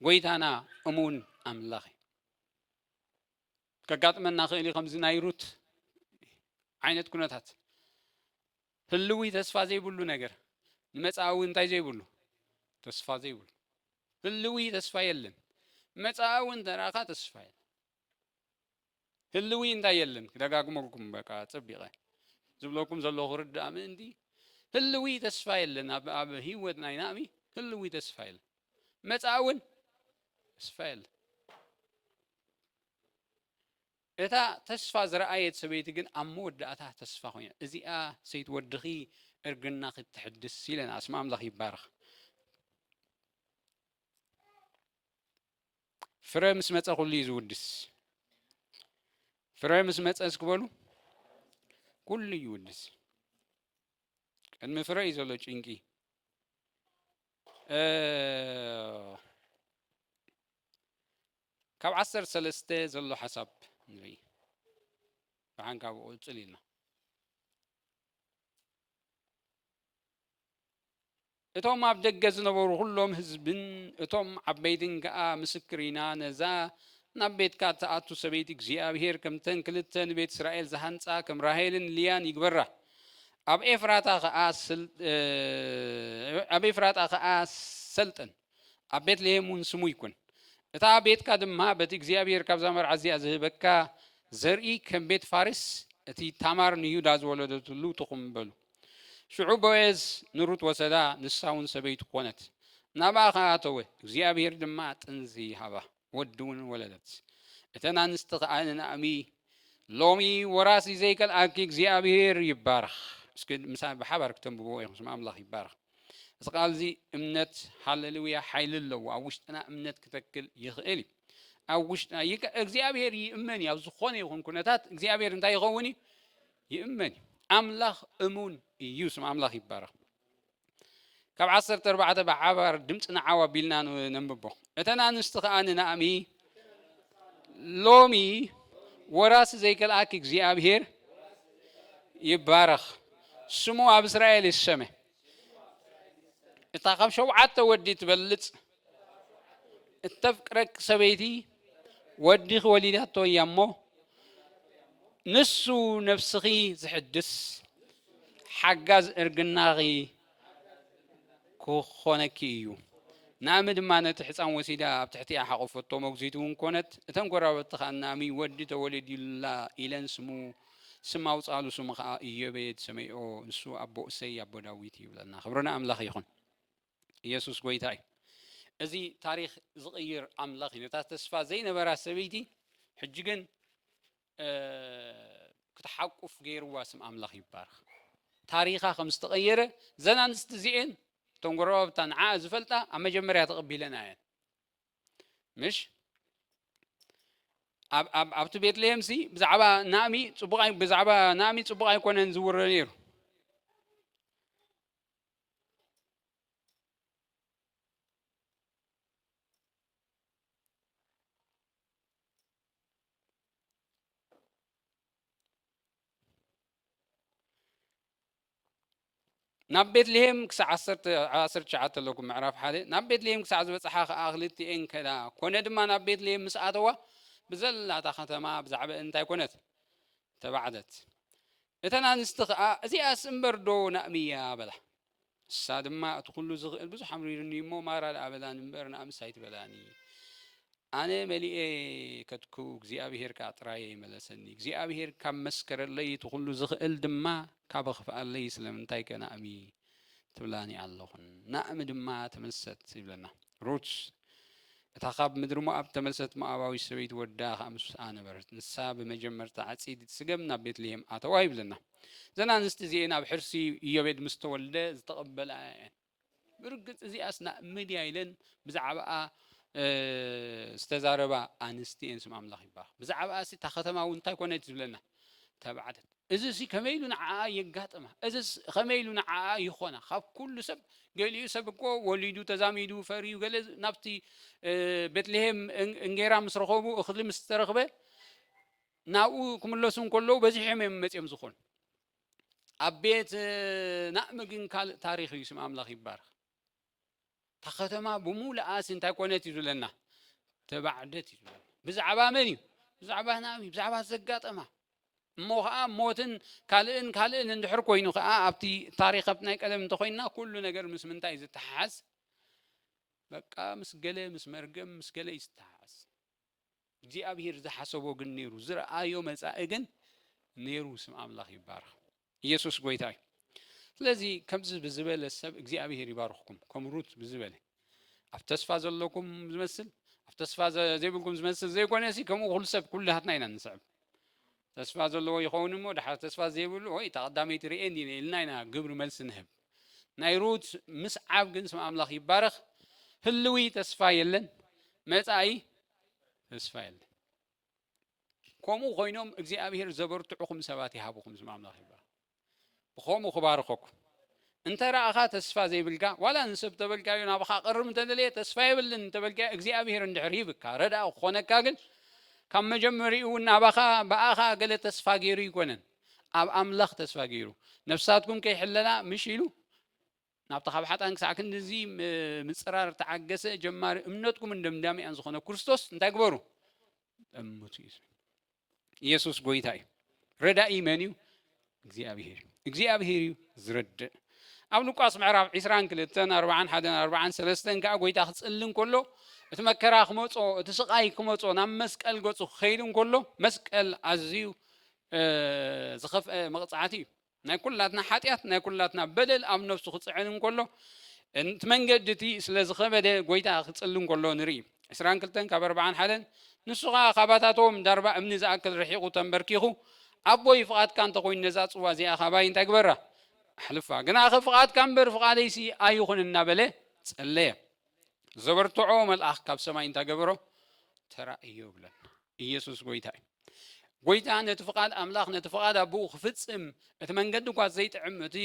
ጎይታና እሙን ኣምላኽ እዩ። ከጋጥመና ክእል እዩ ከምዚ ናይ ሩት ዓይነት ኩነታት ህልዊ ተስፋ ዘይብሉ ነገር ንመጻእዊ እንታይ ዘይብሉ ተስፋ ዘይብሉ ህልዊ ተስፋ የለን መጻእዊ እንተራእኻ ተስፋ የለን ህልዊ እንታይ የለን ክደጋግመልኩም በቃ ጸቢቐ ዝብለኩም ዘለኹ ርዳእ ምእንቲ ህልዊ ተስፋ የለን ኣብ ህይወት ናይ ናእሚ ህልዊ ተስፋ የለን መጻእውን ተስፋ የለን እታ ተስፋ ዝረኣየት ሰበይቲ ግን ኣብ መወዳእታ ተስፋ ኮይና እዚኣ ሰይቲ ወድኺ እርግና ክትሕድስ ኢለና ስም ኣምላኽ ይባረኽ ፍረ ምስ መፀ ኩሉ እዩ ዝውድስ ፍረ ምስ መፀ እስክበሉ ኩሉ ይውድስ ቅድሚ ፍረ እዩ ዘሎ ጭንቂ ካብ ዓሰርተ ሰለስተ ዘሎ ሓሳብ ንርኢ። ደሓን ካብኡ ቅጽል ኢልና። እቶም ኣብ ደገ ዝነበሩ ኩሎም ህዝብን እቶም ዓበይትን ከኣ ምስክር ኢና ነዛ ናብ ቤትካ እትኣቱ ሰበይቲ እግዚኣብሄር ከምተን ክልተ ንቤት እስራኤል ዝሃንጻ ከም ራሄልን ልያን ይግበራ ኣብ ኤፍራታ ከኣ ኣብ ኤፍራጣ ከኣ ሰልጠን ኣብ ቤትልሄም እውን ስሙ ይኩን። እታ ቤትካ ድማ በቲ እግዚኣብሄር ካብዛ መርዓት እዚኣ ዝህበካ ዘርኢ ከም ቤት ፋሬስ እቲ ታማር ንዩዳ ዝወለደትሉ ትኹም በሉ። ሽዑ ቦዔዝ ንሩት ወሰዳ፣ ንሳ እውን ሰበይቱ ኮነት። ናብኣ ኸኣ ኣተወ፣ እግዚኣብሄር ድማ ጥንዚ ሃባ። ወዲ እውን ወለደት። እተን ኣንስቲ ከኣ ንናእሚ ሎሚ ወራሲ ዘይከልኣኪ እግዚኣብሄር ይባረኽ እስኪ ምሳይ ብሓባር ክተንብብዎ ኢኹም ስም ኣምላኽ ይባረኽ እዚ ቃል እዚ እምነት ሃለልውያ ሓይሊ ኣለዎ ኣብ ውሽጥና እምነት ክተክል ይኽእል እዩ ኣብ ውሽጥና እግዚኣብሄር ይእመን እዩ ኣብ ዝኾነ ይኹን ኩነታት እግዚኣብሄር እንታይ ይኸውን እዩ ይእመን እዩ ኣምላኽ እሙን እዩ ስም ኣምላኽ ይባረኽ ካብ ዓሰርተ ኣርባዕተ ብሓባር ድምፅና ዓው ኣቢልና ነንብቦ እተን ኣንስቲ ከዓ ንናእሚ ሎሚ ወራሲ ዘይከልኣኪ እግዚኣብሔር ይባረኽ ስሙ ኣብ እስራኤል ይሰመ እታ ካብ ሸውዓተ ወዲ ትበልፅ እተፍቅረኪ ሰበይቲ ወዲኺ ወሊዳቶ እያ እሞ ንሱ ነፍስኺ ዝሕድስ ሓጋዝ እርግናኺ ክኾነኪ እዩ ናእሚ ድማ ነቲ ሕፃን ወሲዳ ኣብ ትሕቲኣ ሓቆፈቶ መጉዚት እውን ኮነት እተን ጎራበቲ ከዓ ናእሚ ወዲ ተወለዲላ ኢለን ስሙ ስም ኣውፃሉ ስሙ ከዓ እዮቤድ ሰመይኦ ንሱ ኣቦ እሰይ ኣቦ ዳዊት ይብለና ክብርና ኣምላኽ ይኹን ኢየሱስ ጎይታ እዩ። እዚ ታሪኽ ዝቕይር ኣምላኽ እዩ። ነታ ተስፋ ዘይነበራ ሰበይቲ ሕጂ ግን ክትሓቁፍ ገይርዋ ስም ኣምላኽ ይባረኽ። ታሪኻ ከም ዝተቐየረ ዘን ኣንስቲ እዚኤን እቶም ጎረባብታ ንዓኣ ዝፈልጣ ኣብ መጀመርያ ተቐቢለና እየን ምሽ ኣብቲ ቤትልሄም ሲ ብዛዕባ ናእሚ ጽቡቕ ብዛዕባ ናእሚ ጽቡቕ ኣይኮነን ዝውረ ነይሩ ናብ ቤትልሄም ክሳዕ ዓሰርተ ትሽዓተ ኣለኩ ምዕራፍ ሓደ ናብ ቤትልሄም ክሳዕ ዝበፅሓ ከዓ ክልቲኤን ከዳ ኮነ ድማ ናብ ቤትልሄም ምስ ኣተዋ ብዘላታ ከተማ ብዛዕባ እንታይ ኮነት ተባዕደት እተን ኣንስቲ ኸኣ፣ እዚኣስ እምበርዶ ናእሚ እያ? በላ። ንሳ ድማ፣ እቲ ዅሉ ዚኽእል ብዙሕ ኣምሪሩኒ እዩ እሞ፣ ማራ ደኣ በላኒ እምበር፣ ናእምስ ኣይትበላኒ። ኣነ መሊኤ ከድኩ፣ እግዚኣብሄር ከኣ ጥራይ እየ መለሰኒ። እግዚኣብሄር ካብ መስከረለይ፣ እቲ ዅሉ ዚኽእል ድማ ካብ ኣኽፍኣለይ፣ ስለምንታይከ ናእሚ ትብላኒ ኣሎኹን ናእሚ ድማ ተመልሰት ይብለና ሩት እታ ካብ ምድሪ ሞኣብ እተመልሰት ሞኣባዊት ሰበይቲ ወዳ ከኣ ምስኣ ነበረት ንሳ ብመጀመርታ ዓጺድ ትስገም ናብ ቤትልሄም ኣተዋ ይብለና እዘን ኣንስቲ እዚኤን ኣብ ሕርሲ ኢዮቤድ ምስ ተወልደ ዝተቐበላ እየን ብርግጽ እዚኣስ ናእሚ ድያ ኢለን ብዛዕባኣ ዝተዛረባ ኣንስቲ እየን ስም ኣምላኽ ይባረኽ ብዛዕባኣ እታ ከተማ እውን እንታይ ኮነት ዝብለና ተባዕተን እዝሲ ከመይ ኢሉ ንዓኣ የጋጥማ? እዝስ ኸመይ ኢሉ ንዓኣ ይኾና? ካብ ኩሉ ሰብ ገሊኡ ሰብ እኮ ወሊዱ ተዛሚዱ ፈርዩ ገለ ናብቲ ቤትልሄም እንጌራ ምስ ረኸቡ እኽሊ ምስ ተረኽበ ናብኡ ክምለሱ እንከለዉ በዚሖም እዮም መፅኦም ዝኾኑ ኣብ ቤት ናእሚ ግን ካልእ ታሪኽ እዩ ስም ኣምላኽ ይባረኽ እታ ከተማ ብምሉኣስ እንታይ ኮነት እዩ ዝብለና ተባዕደት እዩ ዝብለና ብዛዕባ መን እዩ ብዛዕባ ናብዩ ብዛዕባ ዘጋጠማ እሞ ከዓ ሞትን ካልእን ካልእን እንድሕር ኮይኑ ከዓ ኣብቲ ታሪክ ኣብቲ ናይ ቀደም እንተኮይና ኩሉ ነገር ምስ ምንታይ ዝተሓሓዝ በቃ ምስ ገለ ምስ መርገም ምስ ገለ እዩ ዝተሓሓዝ እግዚኣብሄር ዝሓሰቦ ግን ነይሩ ዝረኣዮ መጻኢ ግን ነይሩ ስም ኣምላኽ ይባረኽ ኢየሱስ ጎይታ እዩ ስለዚ ከምዚ ብዝበለ ሰብ እግዚኣብሄር ይባርኽኩም ከም ሩት ብዝበለ ኣብ ተስፋ ዘለኩም ዝመስል ኣብ ተስፋ ዘይብልኩም ዝመስል ዘይኮነ ሲ ከምኡ ኩሉ ሰብ ኩላትና ኢና ንስዕብ ተስፋ ዘለዎ ይኸውን እሞ ድሓር ተስፋ ዘይብሉ ወይ እታ ቀዳመይቲ ርእየኒ ኢለ ኢልና ኢና ግብሪ መልሲ ንህብ። ናይ ሩት ምስዓብ ግን ስም ኣምላኽ ይባረኽ ህልዊ ተስፋ የለን መጻኢ ተስፋ የለን። ከምኡ ኮይኖም እግዚኣብሄር ዘበርትዑኹም ሰባት ይሃብኹም ስም ኣምላኽ ይባረኽ። ብኸምኡ ክባርኸኩም። እንተ ረኣኻ ተስፋ ዘይብልካ፣ ዋላ ንሰብ ተበልካዮ ናባኻ ክቐርብ እንተ ደለየ ተስፋ የብልን እንተ በልካዮ፣ እግዚኣብሄር እንድሕር ሂብካ ረዳኢ ክኾነካ ግን ካብ መጀመሪኡ እውን ናባኻ ብኣኻ ገለ ተስፋ ገይሩ ኣይኮነን፣ ኣብ ኣምላኽ ተስፋ ገይሩ። ነፍሳትኩም ከይሕለላ ምሽ ኢሉ ናብቲ ካብ ሓጥኣን ክሳዕ ክንድዚ ምጽራር እተዓገሰ ጀማሪ እምነትኩምን ደምዳሚኣን ዝኾነ ክርስቶስ እንታይ ግበሩ? ጠምቱ እዩ ዝብል። ኢየሱስ ጎይታ እዩ። ረዳኢ መን እዩ? እግዚኣብሄር እዩ። እግዚኣብሄር እዩ ዝረድእ። ኣብ ሉቃስ ምዕራፍ 22 4 1 4 ሰለስተን ከዓ ጎይታ ክጽሊ እንከሎ እቲ መከራ ክመጾ እቲ ስቃይ ክመጾ ናብ መስቀል ገጹ ክኸይድ እንከሎ መስቀል ኣዝዩ ዝኸፍአ መቕጻዕቲ እዩ። ናይ ኩላትና ሓጢኣት ናይ ኩላትና በደል ኣብ ነፍሱ ክጽዕን እንከሎ እቲ መንገዲ እቲ ስለ ዝኸበደ ጎይታ ክጽሊ እንከሎ ንርኢ ዕስራን ክልተን ካብ ኣርባዓን ሓደን ንሱ ከዓ ካባታቶም ዳርባ እምኒ ዝኣክል ርሒቑ ተንበርኪኹ ኣቦይ ፍቓድካ እንተኾይኑ ነዛ ጽዋ እዚኣ ካባይ እንታይ ግበራ ኣሕልፋ ግናኸ ፍቓድካ እምበር ፍቓደይሲ ኣይኹን እናበለ ጸለየ ዘበርትዖ መልኣኽ ካብ ሰማይ እንታይ ገበሮ ተራእዮ ይብለና ኢየሱስ ጐይታ እዩ። ጐይታ ነቲ ፍቓድ ኣምላኽ ነቲ ፍቓድ ኣቦኡ ክፍጽም እቲ መንገዲ እኳ ዘይጥዕም እቲ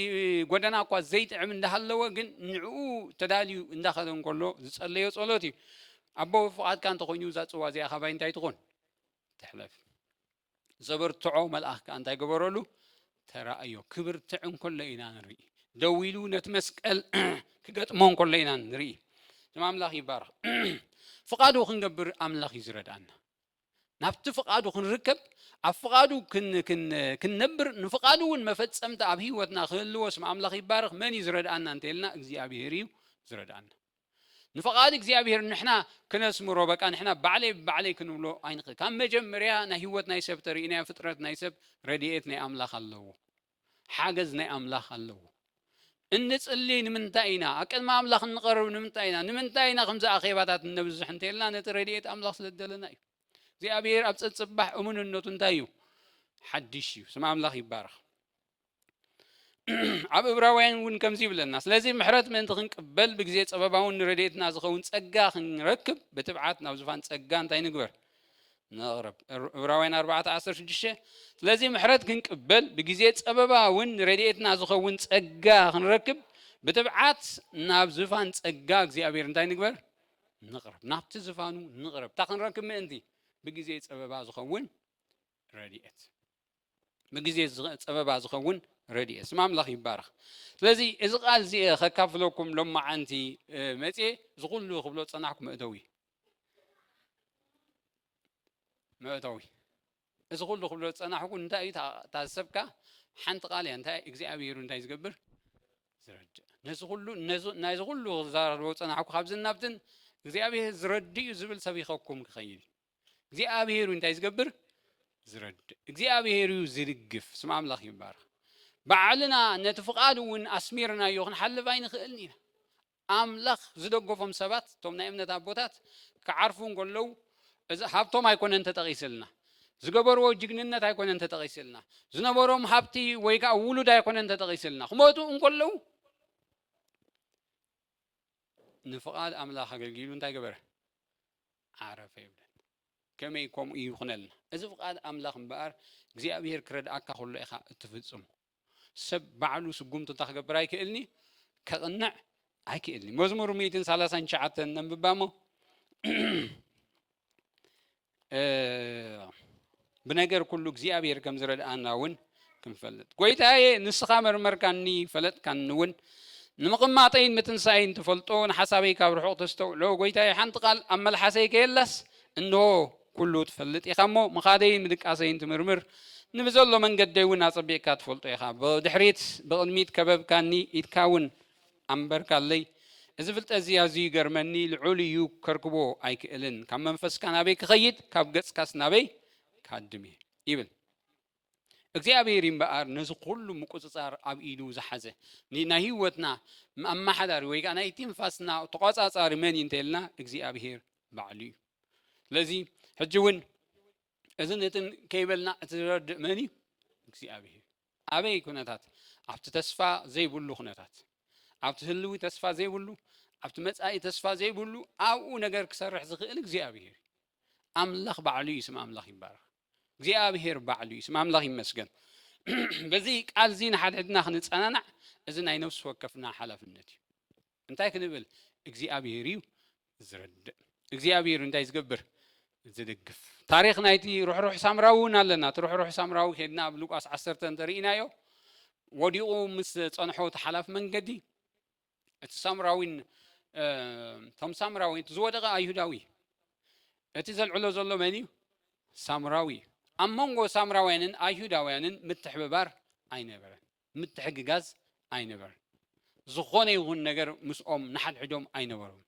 ጎደና እኳ ዘይጥዕም እንዳሃለወ ግን ንዕኡ ተዳልዩ እንዳኸደ እንከሎ ዝጸለዮ ጸሎት እዩ ኣቦ ፍቓድካ እንተኾይኑ እዛ ጽዋ እዚኣ ካባይ እንታይ ትኾን ትሕለፍ ዘበርትዖ መልኣኽ ከዓ እንታይ ገበረሉ ተራእዮ ክብርትዕ እንከሎ ኢና ንርኢ ደው ኢሉ ነቲ መስቀል ክገጥሞ እንከሎ ኢና ንርኢ ስም ኣምላኽ ይባረኽ ፍቓዱ ክንገብር ኣምላኽ እዩ ዝረድኣና ናብቲ ፍቓዱ ክንርከብ ኣብ ፍቓዱ ክንነብር ንፍቓዱ እውን መፈፀምቲ ኣብ ህይወትና ክህልዎ ስም ኣምላኽ ይባረኽ መን እዩ ዝረድኣና እንተይልና እግዚኣብሄር እዩ ዝረድኣና ንፍቓድ እግዚኣብሄር ንሕና ክነስምሮ በቃ ንሕና ባዕለይ ብባዕለይ ክንብሎ ኣይንኽእል ካብ መጀመርያ ናይ ህይወት ናይ ሰብ ተርእናዮ ፍጥረት ናይ ሰብ ረድኤት ናይ ኣምላኽ ኣለዎ ሓገዝ ናይ ኣምላኽ ኣለዎ እንጽሊ ንምንታይ ኢና ኣብ ቅድሚ ኣምላኽ እንቐርብ ንምንታይ ኢና ንምንታይ ኢና ከምዚ ኣኼባታት እነብዝሕ እንተልና ነቲ ረድኤት ኣምላኽ ስለ ዝደለና እዩ እግዚኣብሔር ኣብ ፀፅባሕ እሙንነቱ እንታይ እዩ ሓድሽ እዩ ስም ኣምላኽ ይባረኽ ኣብ እብራውያን እውን ከምዚ ይብለና ስለዚ ምሕረት ምእንቲ ክንቅበል ብግዜ ጸበባውን ንረድኤትና ዝኸውን ጸጋ ክንረክብ ብትብዓት ናብ ዝፋን ጸጋ እንታይ ንግበር ነቕረብ እብራውያን 416 ስለዚ ምሕረት ክንቅበል ብግዜ ጸበባውን ንረድኤትና ዝኸውን ጸጋ ክንረክብ ብትብዓት ናብ ዝፋን ጸጋ እግዚኣብሔር እንታይ ንግበር ንቕረብ ናብቲ ዝፋኑ ንቕረብ እታ ክንረክብ ምእንቲ ብግዜ ጸበባ ዝኸውን ረድኤት ብግዜ ጸበባ ዝኸውን ረድኤት ስም ኣምላኽ ይባረኽ። ስለዚ እዚ ቃል እዚ ከካፍለኩም ሎማዓንቲ መጽየ እዚ ኩሉ ክብሎ ጸናሕኩ መእተዊ መእተዊ እዚ ኩሉ ክብሎ ጸናሕኩ እንታይ እዩ ታሰብካ ሓንቲ ቃል እያ እንታይ እግዚኣብሄሩ እንታይ ዝገብር ዝረድእ ነዚ ኩሉ ናይዚ ኩሉ ክዛረቦ ጸናሕኩ ካብዚ ናብትን እግዚኣብሄር ዝረድእ እዩ ዝብል ሰቢኸኩም ክኸይድ እግዚኣብሔር እዩ እንታይ ዝገብር ዝረድእ እግዚኣብሔር እዩ ዝድግፍ ስም ኣምላኽ ይባረኽ ባዕልና ነቲ ፍቓድ እውን ኣስሚርናዮ ክንሓልፍ ኣይንኽእልን ኢና ኣምላኽ ዝደገፎም ሰባት እቶም ናይ እምነት ኣቦታት ክዓርፉ እንከለዉ እዚ ሃብቶም ኣይኮነን ተጠቒስልና ዝገበርዎ ጅግንነት ኣይኮነን ተጠቒስልና ዝነበሮም ሃብቲ ወይ ከዓ ውሉድ ኣይኮነን ተጠቒስልና ክመጡ እንከለዉ ንፍቓድ ኣምላኽ ኣገልጊሉ እንታይ ገበረ ዓረፈ ይብለን ከመይ ከምኡ ይኹነልና እዚ ፍቃድ ኣምላኽ እምበኣር እግዚኣብሄር ክረድኣካ ከሎ ኢኻ እትፍጽሞ ሰብ ባዕሉ ስጉምቱ እንታይ ክገብር ኣይክእልኒ ከቕንዕ ኣይክእልኒ መዝሙር ሚእትን ሰላሳን ትሽዓተን ነንብባሞ ብነገር ኩሉ እግዚኣብሔር ከም ዝረድኣና እውን ክንፈልጥ ጎይታየ ንስኻ መርመርካኒ ፈለጥካኒ እውን ንምቕማጠይን ምትንሳኤይን ትፈልጦ ንሓሳበይ ካብ ርሑቕ ተስተውዕሎ ጎይታየ ሓንቲ ቃል ኣብ መልሓሰይ ከየላስ እንሆ ኩሉ ትፈልጥ ኢኻ እሞ ምኻደይን ምድቃሰይን ትምርምር ንብዘሎ መንገደይ እውን ኣጸቢቕካ ትፈልጦ ኢኻ ብድሕሪት ብቕድሚት ከበብካኒ ኢድካ እውን ኣንበርካለይ እዚ ፍልጠት እዚ ኣዝዩ ይገርመኒ ልዑል እዩ ከርክቦ ኣይክእልን ካብ መንፈስካ ናበይ ክኸይድ ካብ ገጽካስ ናበይ ካድም እየ ይብል እግዚኣብሔር እምበኣር ነዚ ኩሉ ምቁፅፃር ኣብ ኢዱ ዝሓዘ ናይ ህይወትና ኣመሓዳሪ ወይ ከዓ ናይ ትንፋስና ተቆፃፃሪ መን እዩ እንተልና እግዚኣብሔር ባዕሉ እዩ ስለዚ ሕጂ እውን እዝን እትን ከይበልና እቲ ዝረድእ መን እዩ እግዚኣብሔር ኣበይ ኩነታት? ኣብቲ ተስፋ ዘይብሉ ኩነታት፣ ኣብቲ ህልዊ ተስፋ ዘይብሉ፣ ኣብቲ መጻኢ ተስፋ ዘይብሉ፣ ኣብኡ ነገር ክሰርሕ ዝኽእል እግዚኣብሄር እዩ። ኣምላኽ ባዕሉ እዩ፣ ስም ኣምላኽ ይባረኽ። እግዚኣብሄር ባዕሉ እዩ፣ ስም ኣምላኽ ይመስገን። በዚ ቃል እዚ ንሓድሕድና ክንጸናናዕ እዚ ናይ ነፍሲ ወከፍና ሓላፍነት እዩ። እንታይ ክንብል እግዚኣብሄር እዩ ዝረድእ እግዚኣብሄር እንታይ ዝገብር ዝድግፍ ታሪክ ናይቲ ርሕሩሕ ሳምራዊ እውን ኣለና እቲ ርሕሩሕ ሳምራዊ ከድና ኣብ ሉቃስ ዓሰርተ እንተርኢናዮ ወዲቑ ምስ ፀንሖ እቲ ሓላፍ መንገዲ እቲ ሳምራዊን እቶም ሳምራዊ እቲ ዝወደቐ ኣይሁዳዊ እቲ ዘልዕሎ ዘሎ መን እዩ ሳምራዊ እዩ ኣብ መንጎ ሳምራውያንን ኣይሁዳውያንን ምትሕብባር ኣይነበረን ምትሕግጋዝ ኣይነበረን። ዝኾነ ይኹን ነገር ምስኦም ንሓድሕዶም ኣይነበሩን።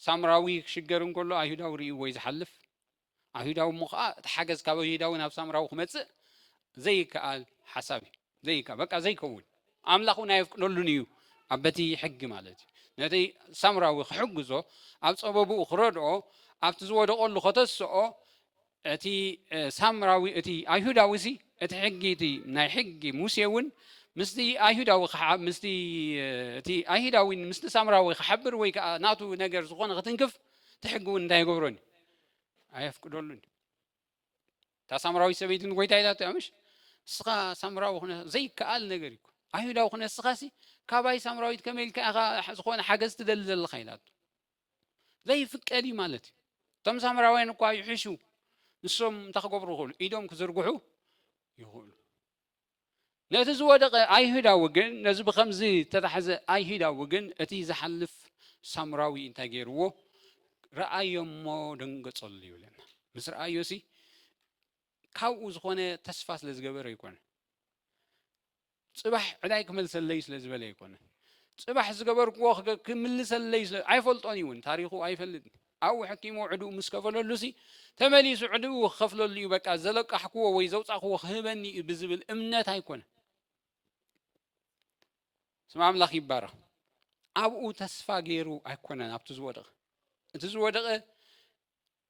ሳምራዊ ክሽገር እንከሎ ኣይሁዳዊ ርእይዎ'ዩ ዝሓልፍ። ኣይሁዳዊ እሞ ከኣ እቲ ሓገዝ ካብ ኣይሁዳዊ ናብ ሳምራዊ ክመጽእ ዘይከኣል ሓሳብ እዩ። ዘይከ በቃ ዘይከውን ኣምላኽ እውን ኣየፍቅደሉን እዩ ኣብ በቲ ሕጊ ማለት እዩ። ነቲ ሳምራዊ ክሕግዞ ኣብ ጸበብኡ ክረድኦ ኣብቲ ዝወደቐሉ ከተስኦ እቲ ሳምራዊ እቲ ኣይሁዳዊሲ እቲ ሕጊ እቲ ናይ ሕጊ ሙሴ እውን ምስቲ ኣይሁዳዊ ምስቲ እቲ ኣይሁዳዊ ምስቲ ሳምራዊ ክሓብር ወይ ከዓ ናቱ ነገር ዝኾነ ክትንክፍ እቲ ሕጊ እውን እንታይ ይገብሮን እዩ ኣየፍቅደሉን እዩ እታ ሳምራዊት ሰበይቲ ንጎይታ ኢላቶ እያ ምሽ ንስኻ ሳምራዊ ክነ ዘይከኣል ነገር እዩ ኣይሁዳዊ ክነ ንስኻሲ ካባይ ሳምራዊት ከመይ ኢልካ ኢኻ ዝኾነ ሓገዝ ትደሊ ዘለኻ ኢላቶ ዘይፍቀድ እዩ ማለት እዩ እቶም ሳምራውያን እኳ ይሕሹ ንሶም እንታይ ክገብሩ ይኽእሉ ኢዶም ክዝርግሑ ይኽእሉ ነቲ ዝወደቐ ኣይሁዳዊ ግን ነዚ ብከምዚ ተታሕዘ ኣይሁዳዊ ግን እቲ ዝሓልፍ ሳምራዊ እንታይ ገይርዎ ረኣዮ እሞ ደንገጸሉ ይብለና ምስ ረኣዮ ሲ ካብኡ ዝኾነ ተስፋ ስለ ዝገበረ ይኮነ ጽባሕ ዕዳይ ክመልሰለይ ስለ ዝበለ ኣይኮነን። ጽባሕ ዝገበርክዎ ክምልሰለይ ስለ ኣይፈልጦን እዩ ውን ታሪኹ ኣይፈልጥ ኣብኡ ሕኪሙ ዕድኡ ምስ ከፈለሉ ሲ ተመሊሱ ዕድኡ ክኸፍለሉ እዩ በቃ ዘለቃሕክዎ ወይ ዘውጻኽዎ ክህበኒ እዩ ብዝብል እምነት ኣይኮነን። ስም ኣምላኽ ይባረኽ። ኣብኡ ተስፋ ገይሩ ኣይኮነን ኣብቲ ዝወደቐ እቲ ዝወደቐ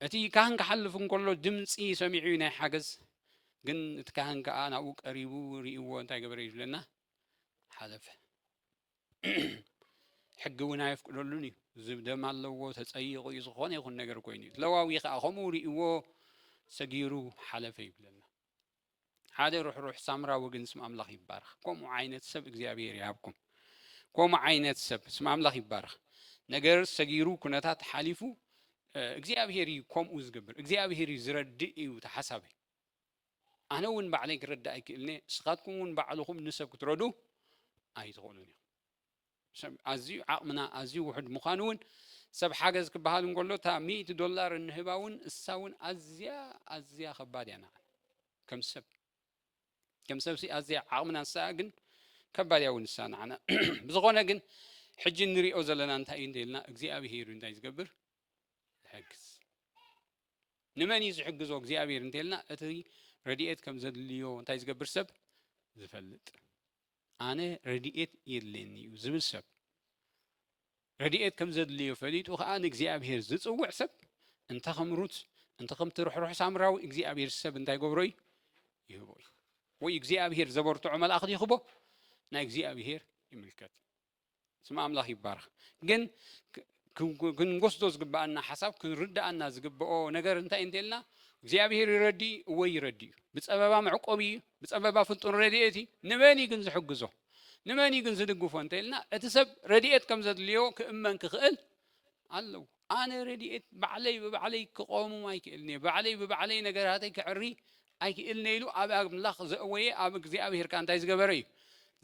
እቲ ካህን ክሓልፍ እንከሎ ድምጺ ሰሚዑ እዩ ናይ ሓገዝ ግን እቲ ካህን ከዓ ናብኡ ቀሪቡ ርእይዎ እንታይ ገበረ እዩ ዝብለና ሓለፈ ሕጊ እውን ኣየፍቅደሉን እዩ ዝብ ደም ኣለዎ ተፀይቑ እዩ ዝኾነ ይኹን ነገር ኮይኑ እዩ ለዋዊ ከዓ ከምኡ ርእይዎ ሰጊሩ ሓለፈ ይብለና ሓደ ርሕሩሕ ሳምራዊ ግን ስም ኣምላኽ ይባረኽ። ከምኡ ዓይነት ሰብ እግዚኣብሔር ይሃብኩም። ከምኡ ዓይነት ሰብ ስም ኣምላኽ ይባረኽ። ነገር ሰጊሩ ኩነታት ሓሊፉ እግዚኣብሔር እዩ ከምኡ ዝገብር እግዚኣብሔር እዩ ዝረድእ እዩ ተሓሳበይ ኣነ እውን ባዕለይ ክረዳእ ኣይክእልኒ ስኻትኩም እውን ባዕልኹም ንሰብ ክትረዱ ኣይትኽእሉን እዮም ኣዝዩ ዓቕምና ኣዝዩ ውሑድ ምዃኑ እውን ሰብ ሓገዝ ክበሃል እንከሎ እታ ሚእቲ ዶላር እንህባ እውን እሳ እውን ኣዝያ ኣዝያ ከባድ እያ ንዓና ከም ሰብ ከም ሰብሲ ኣዝያ ዓቕምና እሳ ግን ከባድ እያ እውን እሳ ንዓና ብዝኾነ ግን ሕጂ እንሪኦ ዘለና እንታይ እዩ እንተኢልና እግዚኣብሄር እንታይ ዝገብር ዝሕግዝ ንመን እዩ ዝሕግዞ እግዚኣብሄር እንተኢልና እቲ ረድኤት ከም ዘድልዮ እንታይ ዝገብር ሰብ ዝፈልጥ ኣነ ረድኤት የድልየኒ'ዩ ዝብል ሰብ፣ ረድኤት ከም ዘድልዮ ፈሊጡ ኸኣ ንእግዚኣብሄር ዝጽውዕ ሰብ፣ እንተ ኸም ሩት፣ እንተ ኸምቲ ርሕሩሕ ሳምራዊ፣ እግዚኣብሄር ሰብ እንታይ ይገብሮ እዩ? ይህቦ እዩ። ወይ እግዚኣብሄር ዘበርትዖ መልኣኽ ይኽቦ፣ ናይ እግዚኣብሄር ይምልከት። ስም ኣምላኽ ይባረኽ። ግን ክንወስዶ ዝግብኣና ሓሳብ ክንርዳኣና ዝግብኦ ነገር እንታይ እንተልና እግዚኣብሄር ይረዲ እወ ይረዲ እዩ ብፀበባ መዕቆቢ እዩ ብፀበባ ፍልጡን ረድኤት እዩ ንመን እዩ ግን ዝሕግዞ ንመን እዩ ግን ዝድግፎ እንተኢልና እቲ ሰብ ረድኤት ከም ዘድልዮ ክእመን ክኽእል ኣለዎ ኣነ ረድኤት ባዕለይ ብባዕለይ ክቐውምም ኣይክእልንየ፣ ባዕለይ ብባዕለይ ነገራተይ ከዕሪ ኣይክእልንየ ኢሉ ኣብ ኣምላኽ ዘእወየ ኣብ እግዚኣብሄር ከኣ እንታይ ዝገበረ እዩ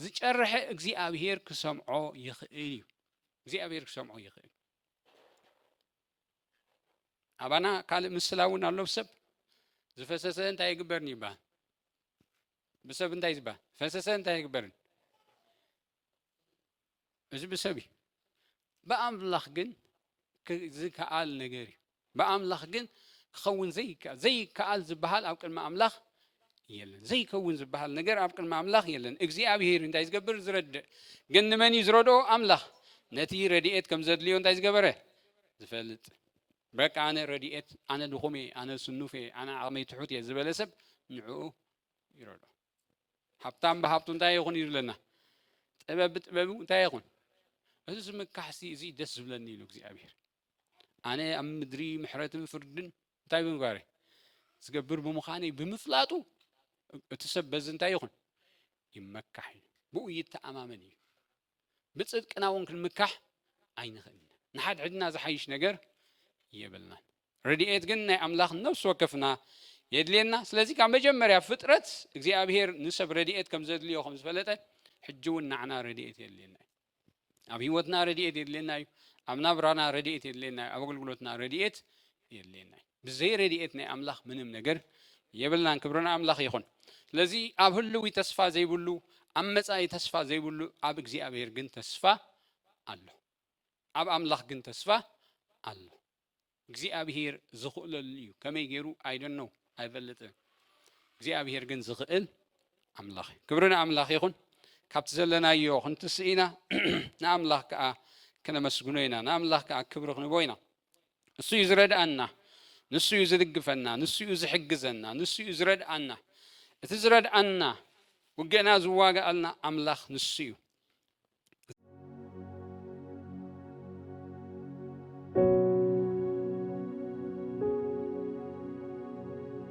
ዝጨርሐ እግዚኣብሄር ክሰምዖ ይኽእል እዩ እግዚኣብሄር ክሰምዖ ይኽእል ኣባና ካልእ ምስላ እውን ኣሎ ብሰብ ዝፈሰሰ እንታይ ይግበርን ይበሃል ብሰብ እንታይ ዝበሃል ፈሰሰ እንታይ ይግበርን እዚ ብሰብ እዩ ብኣምላኽ ግን ዝከኣል ነገር እዩ ብኣምላኽ ግን ክኸውን ዘይከኣል ዘይከኣል ዝበሃል ኣብ ቅድሚ ኣምላኽ የለን ዘይከውን ዝበሃል ነገር ኣብ ቅድሚ ኣምላኽ የለን እግዚኣብሄር እንታይ ዝገብር ዝረድእ ግን ንመን እዩ ዝረድኦ ኣምላኽ ነቲ ረድኤት ከም ዘድልዮ እንታይ ዝገበረ ዝፈልጥ በቃ ኣነ ረድኤት ኣነ ድኹም እየ ኣነ ስኑፍ እየ ኣነ ዓቕመይ ትሑት እየ ዝበለ ሰብ ንዕኡ ይረድኦ ሃብታም ብሃብቱ እንታይ ይኹን እዩ ዝብለና ጥበብ ብጥበቡ እንታይ ይኹን እዚ ዝምካሕሲ እዚ ደስ ዝብለኒ ኢሉ እግዚኣብሔር ኣነ ኣብ ምድሪ ምሕረትን ፍርድን እንታይ ብምግባረ ዝገብር ብምዃነ ብምፍላጡ እቲ ሰብ በዚ እንታይ ይኹን ይመካሕ እዩ ብኡ ይተኣማመን እዩ ብጽድቅና እውን ክንምካሕ ኣይንኽእልን ኢና። ንሓድሕድና ዝሓይሽ ነገር የብልናን። ረድኤት ግን ናይ ኣምላኽ ነፍሲ ወከፍና የድልየና። ስለዚ ካብ መጀመርያ ፍጥረት እግዚኣብሄር ንሰብ ረድኤት ከም ዘድልዮ ከም ዝፈለጠ ሕጂ እውን ንዓና ረድኤት የድልየና እዩ። ኣብ ህይወትና ረድኤት የድልየና እዩ። ኣብ ናብራና ረድኤት የድልየና እዩ። ኣብ ኣገልግሎትና ረድኤት የድልየና እዩ። ብዘይ ረድኤት ናይ ኣምላኽ ምንም ነገር የብልናን ክብሪ ንኣምላኽ ይኹን። ስለዚ ኣብ ህልዊ ተስፋ ዘይብሉ ኣብ መጻኢ ተስፋ ዘይብሉ ኣብ እግዚኣብሔር ግን ተስፋ ኣሎ። ኣብ ኣምላኽ ግን ተስፋ ኣሎ። እግዚኣብሔር ዝኽእለሉ እዩ ከመይ ገይሩ ኣይደኖ ኣይፈልጥን። እግዚኣብሔር ግን ዝኽእል ኣምላኽ እዩ። ክብሪ ንኣምላኽ ይኹን። ካብቲ ዘለናዮ ክንትስእ ኢና ንኣምላኽ ከዓ ክነመስግኖ ኢና ንኣምላኽ ከዓ ክብሪ ክንቦ ኢና። ንሱ እዩ ዝረድኣና፣ ንሱ እዩ ዝድግፈና፣ ንሱ እዩ ዝሕግዘና፣ ንሱ እዩ ዝረድኣና። እቲ ዝረድኣና ውግእና ዝዋግኣልና ኣምላኽ ንሱ እዩ።